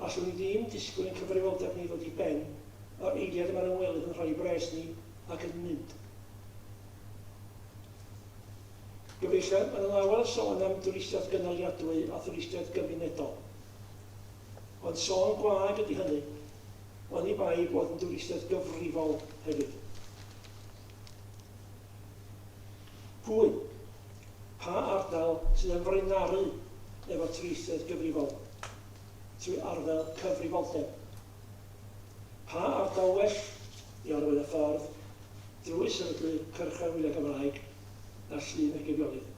Allwn ni ddim disgwyl i'n cyfrifoldeb ni ddod i ben yr eiliad y mae'r ymwelydd yn rhoi ei bres ni ac yn mynd. Gyfeillion, mae'n anawel sôn am dwristiaeth gynaliadwy a thwristiaeth gymunedol. Ond sôn gwag ydy hynny, oni bai bod yn dwristiaeth gyfrifol hefyd. Cŵn, pa ardal sy'n ymfrainaru efo trieithedd gyfrifol trwy arddel cyfrifoldeb? Pa ardal well i arwain y ffordd drwy sefydlu cyrchfan wyliau Cymraeg na Llŷn y Geifiolydd?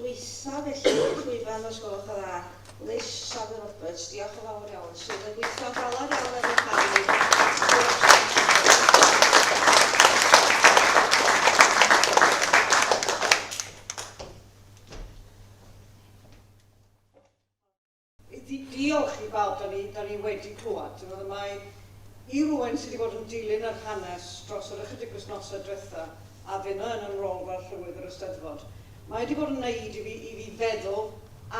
Dwytha felly i'r llwyfan os gwelwch yn dda, Liz Saville Roberts, diolch yn fawr iawn, sydd yn gweithio'n galed iawn er mwyn cael ei Diolch i bawb, 'da ni, 'da ni wedi clywed, ti'n gwbod, a mae, i rywun sy 'di bod yn dilyn yr hanes dros yr ychydig wythnosau dwetha, a finna yn 'y rôl fel Llywydd yr Eisteddfod, mae 'di bod yn 'neud i fi, i fi feddwl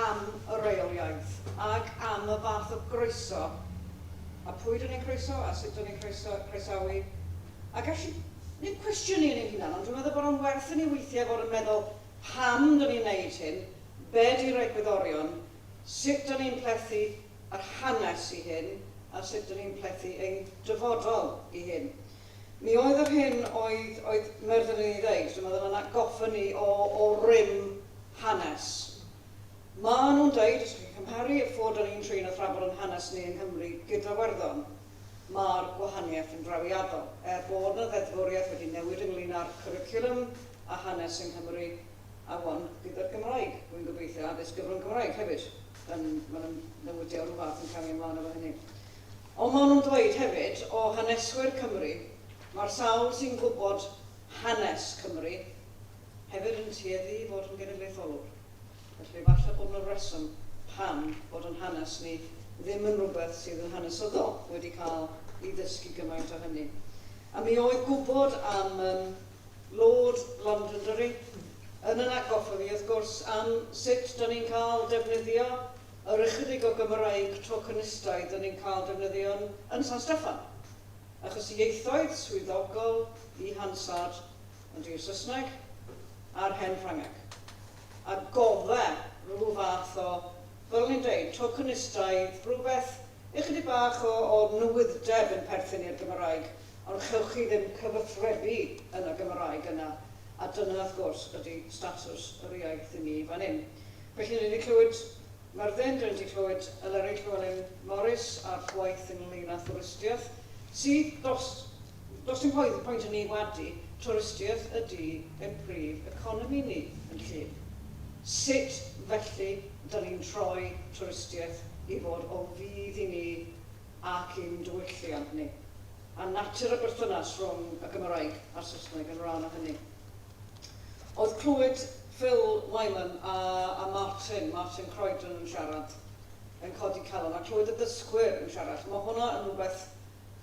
am y reol iaith, ac am y fath o groeso, a pwy 'da ni'n croeso, a sut 'da ni'n croeso, croesawu, a gallu 'neud cwestiynu yn ein hunan, ond dwi'n meddwl bod o'n werth i ni weithiau fod yn meddwl, pam 'da ni'n 'neud hyn, be 'di'r egwyddorion, sut dan ni'n plethu yr hanes i hyn a sut dan ni'n plethu ein dyfodol i hyn. Mi oedd yr hyn oedd oedd Merfyn yn ei ddeud, dwi'n meddwl, yn atgoffa ni o o rym hanes. Maen nhw'n deud, os chi'n cymharu y ffordd dan ni'n trin a thrafod yn hanes ni yng Nghymru gyda Iwerddon, mae'r gwahaniaeth yn drawiadol. Er bod 'na ddeddfwriaeth wedi newid ynglyn â'r cwricwlwm a hanes yng Nghymru, afon gyda'r Gymraeg. Rwy'n gobeithio addysg gyfrwng Cymraeg hefyd. Yn, mae yna newidiad o'r fath yn camu ymlaen efo hynny. Ond maen nhw'n dweud hefyd, o haneswyr Cymru, mae'r sawl sy'n gwybod hanes Cymru hefyd yn tueddu i fod yn genedlaetholwr. Felly falle bod yna reswm pam bod yn hanes ni ddim yn rhywbeth sydd yn hanesyddol wedi cael ei ddysgu gymaint o hynny. A mi oedd gwybod am, yym, Lord Londonderry, yn yn atgoffa fi, wrth gwrs, am sut 'dan ni'n cael defnyddio yr ychydig o Gymraeg tokenistaidd 'dan ni'n cael defnyddio yn yn San Steffan. Achos ieithoedd swyddogol i Hansard ydy y Saesneg a'r Hen Ffrangeg. A godda rhyw fath o, fel o'n i'n deud, tokenistaidd, rhywbeth ychydig bach o o nwydd'deb yn perthyn i'r Gymraeg. ond chewch chi ddim cyfathrebu yn y Gymraeg yna, a dyna wrth gwrs ydy statws yr iaith i ni fan hyn. Felly ni 'di clywed Myrddin, dyn ni 'di clywed Eleri Llewelyn Morris a'r gwaith ynglŷn â thwristiaeth, sydd, does, does dim pwynt, pwynt i ni wadu, twristiaeth ydy ein prif economi ni yn Llŷn. Sut felly 'da ni'n troi twristiaeth i fod o fudd i ni, ac i'n diwylliant ni, a natur y berthynas rhwng y Gymraeg a'r Saesneg yn rhan o hynny. Oedd clywed Phil Wyman a a Martin, Martin Croydon yn siarad, yn codi calon, a clywed y dysgwyr yn siarad, mae hwnna yn rhywbeth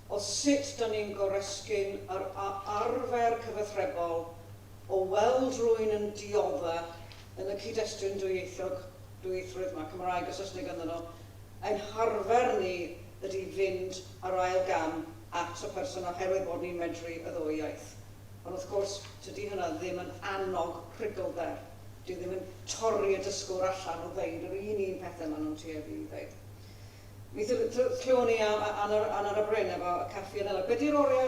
o sut da ni'n goresgyn yr a arfer cyfathrebol o weld rwy'n yn diodda' yn y cyd-destun dwyieithog, dwyieithrwydd 'ma, Cymraeg a Saesneg ynddyn nhw, Ein harfer ni ydy fynd ar ail gam at y person oherwydd bod ni'n medru y ddwy iaith. Ond wrth gwrs, tydi hynna ddim yn annog prigglder. Dyw ddim yn torri y dysgwr allan o ddeud yr un un pethe ma' nhw'n tueddu i ddeud. Mi thlywon ni am Anna Anna Bryn efo y caffi yn Ela. Be 'di'r oriau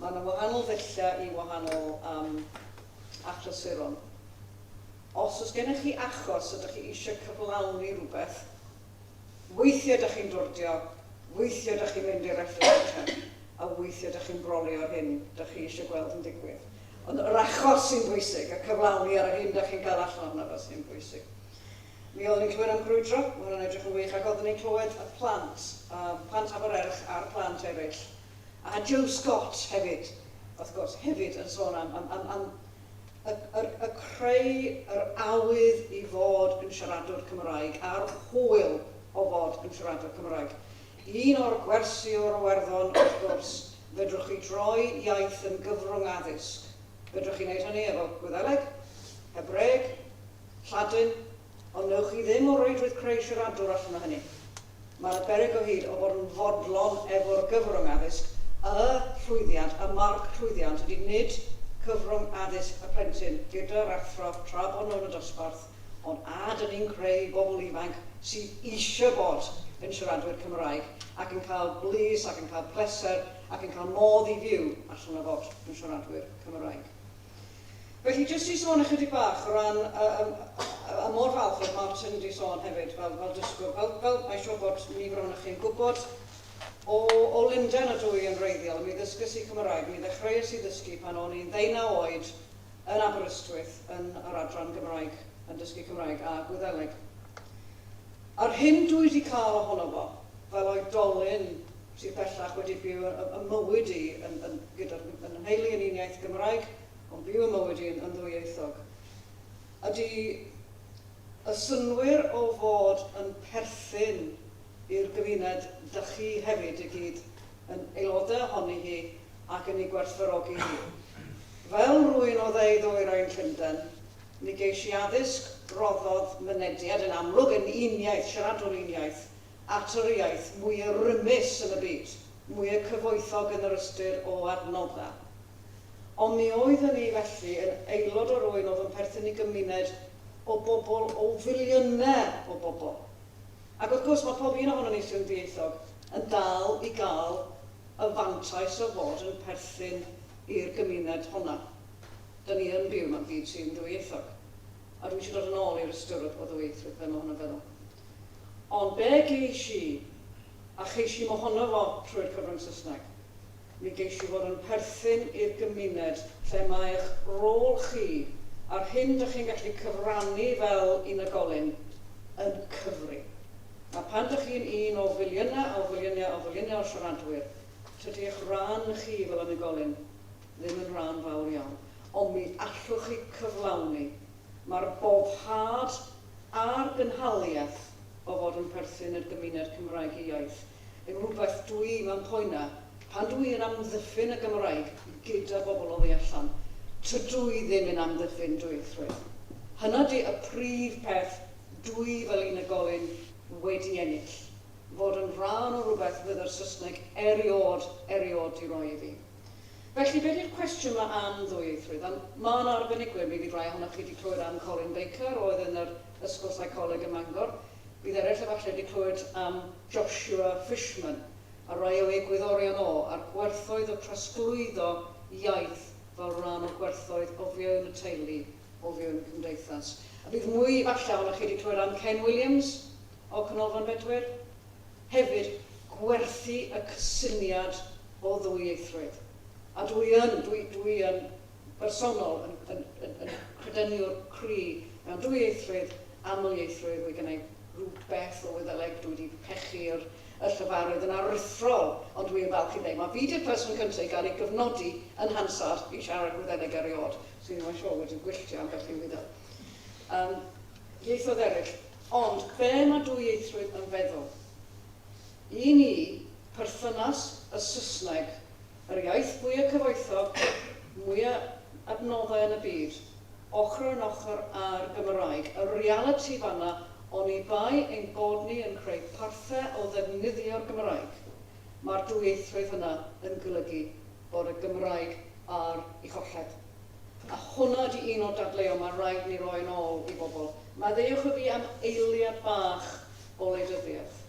Mae yna wahanol ddulliau i wahanol um, achlysuron. Os oes gennych chi achos ydych chi eisiau cyflawni rhywbeth, weithiau ydych chi'n dwrdio, weithiau ydych chi'n mynd i'r FSHM, a weithiau ydych chi'n brolio'r hyn ydych chi eisiau gweld yn digwydd. Ond yr achos sy'n bwysig, y cyflawni ar yr hyn ydych chi'n cael allan ohono fo sy'n bwysig. Mi oeddwn ni'n clywed am grwydro, mae hwnna'n edrych yn wych, ac oeddwn ni'n clywed y plant, uh, plant Abererch a'r plant eraill, a Joe Scott hefyd, wrth gwrs, hefyd yn sôn am am am am y yr y creu yr awydd i fod yn siaradwr Cymraeg a'r hwyl o fod yn siaradwr Cymraeg. Un o'r gwersi o'r Iwerddon, wrth gwrs, fedrwch chi droi iaith yn gyfrwng addysg. Fedrwch chi wneud hynny efo Gwyddeleg, Hebraeg, Lladin, Ond wnewch chi ddim o reidrwydd creu siaradwr allan o hynny. Mae yna beryg o hyd o fod yn fodlon efo'r gyfrwng addysg, y llwyddiant, y marc llwyddiant ydy nid cyfrwng addysg y plentyn gyda'r athro tra bod nhw yn y dosbarth, ond a dyn ni'n creu bobl ifanc sydd eisiau bod yn siaradwyr Cymraeg ac yn cael blis ac yn cael pleser ac yn cael modd i fyw allan o fod yn siaradwyr Cymraeg. Felly, jyst i sôn ychydig bach o ran, a, a, a, a mor falch oedd Martin wedi sôn hefyd fel, fel dysgwr, fel, fel mae'n siŵr bod nifer o'n chi'n gwybod, o, o Lundain a dwy yn wreiddiol, mi ddysgys i Cymraeg, mi ddechreuais i ddysgu pan o'n i'n ddeunaw oed yn Aberystwyth yn yr adran Gymraeg, yn dysgu Cymraeg a Gwyddeleg. A'r hyn dwi wedi cael ohono fo, fel oedolyn, sydd bellach wedi byw yn yn mywyd i yn yn gyda'r yn y nheulu yn un iaith Gymraeg ond byw yn mywyd i yn yn ddwyieithog. Ydy y synnwyr o fod yn perthyn i'r gymuned dych chi hefyd i gyd yn aelodau ohoni hi ac yn ei gwerthfawrogi hi? Fel rwy'n o dde-ddwyrain Llundain, mi geis i addysg roddodd mynediad yn amlwg yn un iaith, siaradwr un iaith, at yr iaith mwya rymus yn y byd, mwya cyfoethog yn yr ystyr o adnodda. Ond mi oedd yn i felly yn aelod o rwyn oedd yn perthyn i gymuned o bobl, o filiyne o bobl. Ac wrth gwrs mae pob un ohonon ni sy'n ddieithog yn dal i gael y fantais o fod yn perthyn i'r gymuned honna. Dyn ni yn byw mewn byd sy'n ddwyieithog. A dwi isio dod yn ôl i'r ystyr o ddwyieithrwydd, be mae hwna'n feddwl. ond be geis i, a cheis i'm ohono fo trwy'r cyfrwng Saesneg, mi geis i fod yn perthyn i'r gymuned lle mae eich rôl chi a'r hyn dych chi'n gallu cyfrannu fel unigolyn yn cyfri. A phan dych chi'n un o filiynau a filiynau a filiynau o siaradwyr, tydi eich rhan chi fel unigolyn ddim yn rhan fawr iawn, ond mi allwch chi cyflawni, mae'r boddhad a'r gynhaliaeth o fod yn perthyn i'r gymuned Cymraeg iaith yn rhywbeth dwi mewn poena pan dwi yn amddiffyn y Gymraeg gyda bobl oddi allan. Tydw i ddim yn amddiffyn dwyieithrwydd. Hynna di y prif peth dwi fel unigolyn wedi ennill, fod yn rhan o rhywbeth fydd yr Saesneg eriôd, eriôd di roi i fi. Felly, be di'r cwestiwn ma am ddwyieithrwydd? Ond ma na arbenigwyr, mi fydd rai ohonoch chi di clywed am Colin Baker oedd yn yr Ysgol Seicoleg ym Mangor. Bydd eraill efalle di clywed am Joshua Fishman a rai o egwyddorion o, a'r gwerthoedd o trosglwyddo iaith fel rhan o gwerthoedd o fewn y teulu, o fewn y cymdeithas. A bydd mwy efalle ohonoch chi di clywed am Ken Williams, o Ganolfan Bedwyr, hefyd gwerthu y cysyniad o ddwyieithrwydd. A dw i yn, dw i, dw i yn bersonol yn, yn, yn, yn credyniwr cry mewn dwyieithrwydd, amlieithrwydd, mae gennau rywbeth o Wyddeleg, dw i wedi pechu yr, y llefarydd yn aruthrol, ond dw i yn falch i ddeud, mae fi 'di'r person cyntaf i gael ei gyfnodi yn Hansard i siarad Gwyddeleg erioed, so fi ddim yn siŵr wedi gwylltio ambell i Wyddeleg. Yym, ieithoedd eraill. Ond be mae dwyieithrwydd yn feddwl? I ni, perthynas y Saesneg, yr iaith fwya' cyfoethog, mwya' adnoddau yn y byd, ochr yn ochr â'r Gymraeg, y realiti fan'na oni bai ein bod ni yn creu parthe o ddefnyddio'r Gymraeg, mae'r dwyieithrwydd yna yn golygu bod y Gymraeg ar ei cholled. A hwnna ydi un o'r dadleuon ma' raid ni roi yn ôl i bobl. Maddeuwch y fi am eiliad bach o wleidyddiaeth,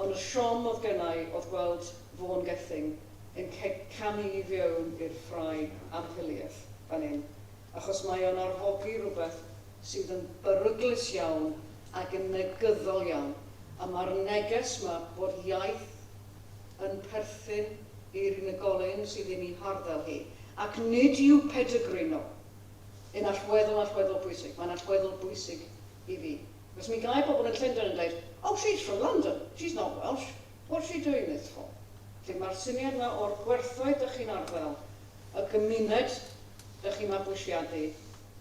ond y siom oedd gennai oedd gweld Vaughan Gething yn canu i fiewn i'r ffrae amheuliaeth fan hyn, achos mae o'n arfogi rhywbeth sydd yn beryglus iawn ac yn negyddol iawn, a ma'r neges ma bod iaith yn perthyn i'r unigolyn sydd yn ei harddel hi, ac nid yw pedigree nhw yn allweddol, allweddol bwysig. Mae'n allweddol bwysig i fi. Achos mi gai pobl yn Llundain yn dweud, Oh, she's from London, she's not Welsh, what's she doing this for? Felly mae'r syniad yma o'r gwerthoedd dych chi'n arddel, y gymuned dych chi'n mabwysiadu,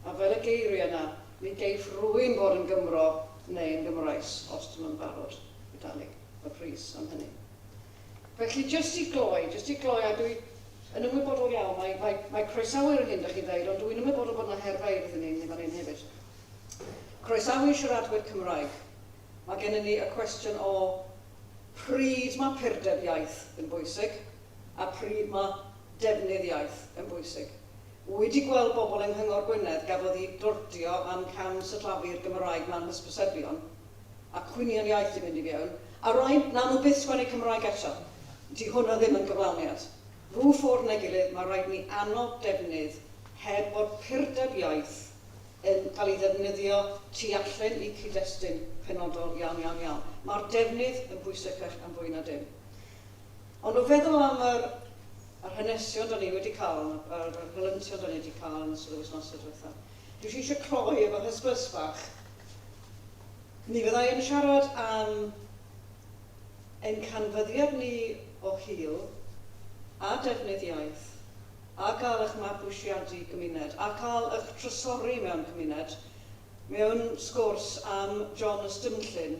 a fel y geiri yna, ni geiff rwyn fod yn Gymro neu yn Gymraes os dyn nhw'n barod i dalu y pris am hynny. Felly, jyst i gloi, jyst i gloi, a dwi yn ymwybodol iawn, mae, mae, mae croesawu yr hyn dych chi ddeud, ond dw i'n ymwybodol bod yna her feirdd i ni fan hyn hefyd. Croesawu siaradwyr Cymraeg. Mae gennym ni y cwestiwn o pryd mae purdeb iaith yn bwysig a pryd mae defnydd iaith yn bwysig. Wy di gweld bobl yng Nghyngor Gwynedd gafodd i glordio am cam syllafu'r Gymraeg mlan hysbysebion a cwynion iaith di mynd i fiewn a rai nawn nhw byth sgwennu Cymraeg eto. Di hwnna ddim yn gyflawniad. Rhw ffordd neu gilydd mae rhaid ni annog defnydd heb bod purdeb iaith yn cael ei ddefnyddio tu allen i cyd-destun penodol iawn iawn iawn. Mae'r defnydd yn bwysecach am fwy na dim. Ond o feddwl am yr yr hanesion da ni wedi cael, yr yr helyntion da ni wedi cael yn ystod yr wythnosau diwethaf, dwi jyst eisiau cloi efo hysbys fach. Mi fyddai yn siarad am ein canfyddiad ni o hil a defnydd iaith, a cael eich mabwysiadu gymuned, a cael eich trysori mewn cymuned, mewn sgwrs am John y Stumllyn,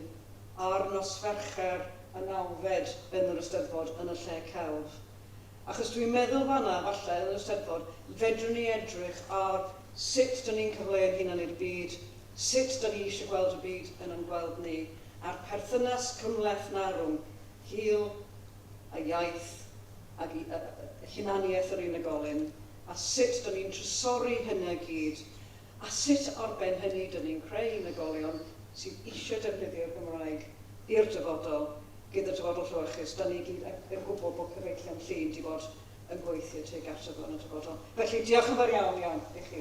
a'r nos Fercher y nawfed yn yr Eisteddfod yn y lle celf. Achos dwi'n meddwl fan'na, falle, yn yr Eisteddfod, fedrwn ni edrych ar sut 'dyn ni'n cyfleu'n hunan i'r byd, sut 'dyn ni eisiau gweld y byd yn yn gweld ni, a'r perthynas cymhleth 'na rhwng hil a iaith ag i hunaniaeth yr unigolyn, a sut 'dyn ni'n trysori hynna i gyd a sut ar ben hynny dŷn ni'n creu unigolion sydd eisiau defnyddio'r Gymraeg i'r dyfodol, gyda dyfodol llewyrchus, dŷn ni i gyd yn yn gwybod bod cyfeillion Llŷn 'di bod yn gweithio tuag ato fo yn y dyfodol. Felly, diolch yn fawr iawn, iawn i chi.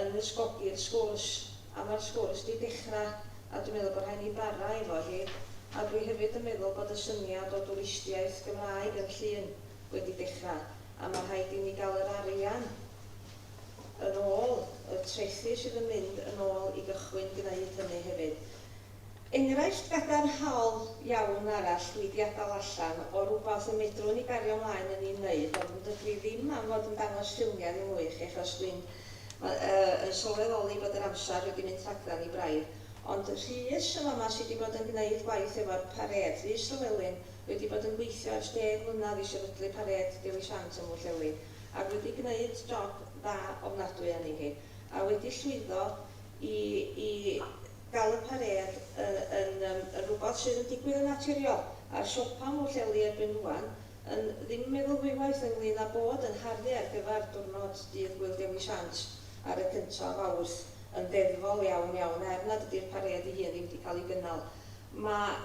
yn ysgogi'r sgwrs, a mae'r sgwrs 'di dechra, a dwi'n meddwl bod rhaid ni bara efo hi, a dwi hefyd yn meddwl bod y syniad o dwristiaeth Gymraeg yn Llŷn wedi dechra, a mae rhaid i ni gael yr arian yn ôl, y trethi sydd yn mynd yn ôl i gychwyn gneud hynny hefyd. Enghraifft gadarnhaol iawn arall dwi 'di adal allan o rwbath y medrwn ni gario mlaen yn 'i wneud ond dydw i ddim am fod yn dangos ffilmiau ddim mwy i chi achos dwi'n yn sylweddoli bod yr amser wedi mynd rhagddan ni braidd ond Rhys yn fama sy' 'di bod yn gneud gwaith efo'r parêd, Rhys Llewelyn, wedi bod yn gweithio ers deg mlynadd i sefydlu parêd Dewi Sant ym Mhwllheli ac wedi gneud job dda ofnadwy arni hi a wedi llwyddo i i gael y parêd y yn yym yn rhywbeth sydd yn digwydd yn naturiol, a'r siopa Mhwllheli erbyn rŵan yn ddim yn meddwl ddwywaith ynglŷn â bod yn harddlu ar gyfer diwrnod Dydd Gŵyl Dewi Sant ar y cyntaf o Fawrth yn ddeddfol iawn iawn er nad ydy'r parêd ei hun ddim wedi cael ei gynnal. Mae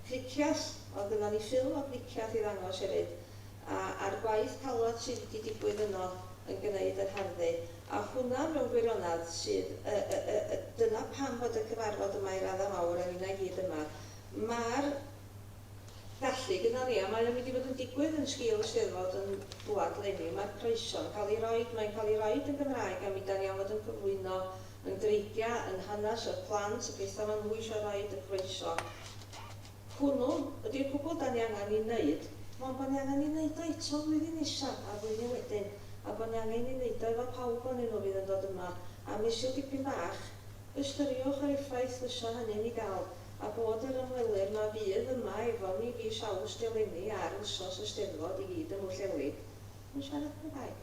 Clicias, oedd gynnon ni ffilm o Glicias i ddangos hefyd, a a'r gwaith calwad sydd wedi digwydd yno yn gneud yr harddu, a hwnna mewn gwirionedd sydd y y y y dyna pam fod y cyfarfod yma i radda mawr a ninna i gyd yma, ma'r gallu gynnon ni a mae o'n mynd i fod yn digwydd yn sgil y Steddfod yn dwad leni, ma'r croeso'n ca'l i roid, mae'n ca'l i roid yn Gymraeg a mi dan ni am fod yn cyflwyno Yn dreigia yn hanes y plant y gaethaf anhwys a raid y croeso. Hwnnw ydy'r cwbl da ni angen i neud, mond bo ni angen i neud o eto flwyddyn nesa a'r flwyddyn wedyn, a bo ni angen i neud o efo pawb onyn nhw fydd yn dod yma a misil dipyn bach. Ystyriwch yr effaith fysa hynny'n i ga'l, a bod yr ymwelwyr ma fydd yma efo ni fis Awst eleni ar wsos y Steddfod i gyd ym Mhwllheli yn siarad Cymraeg.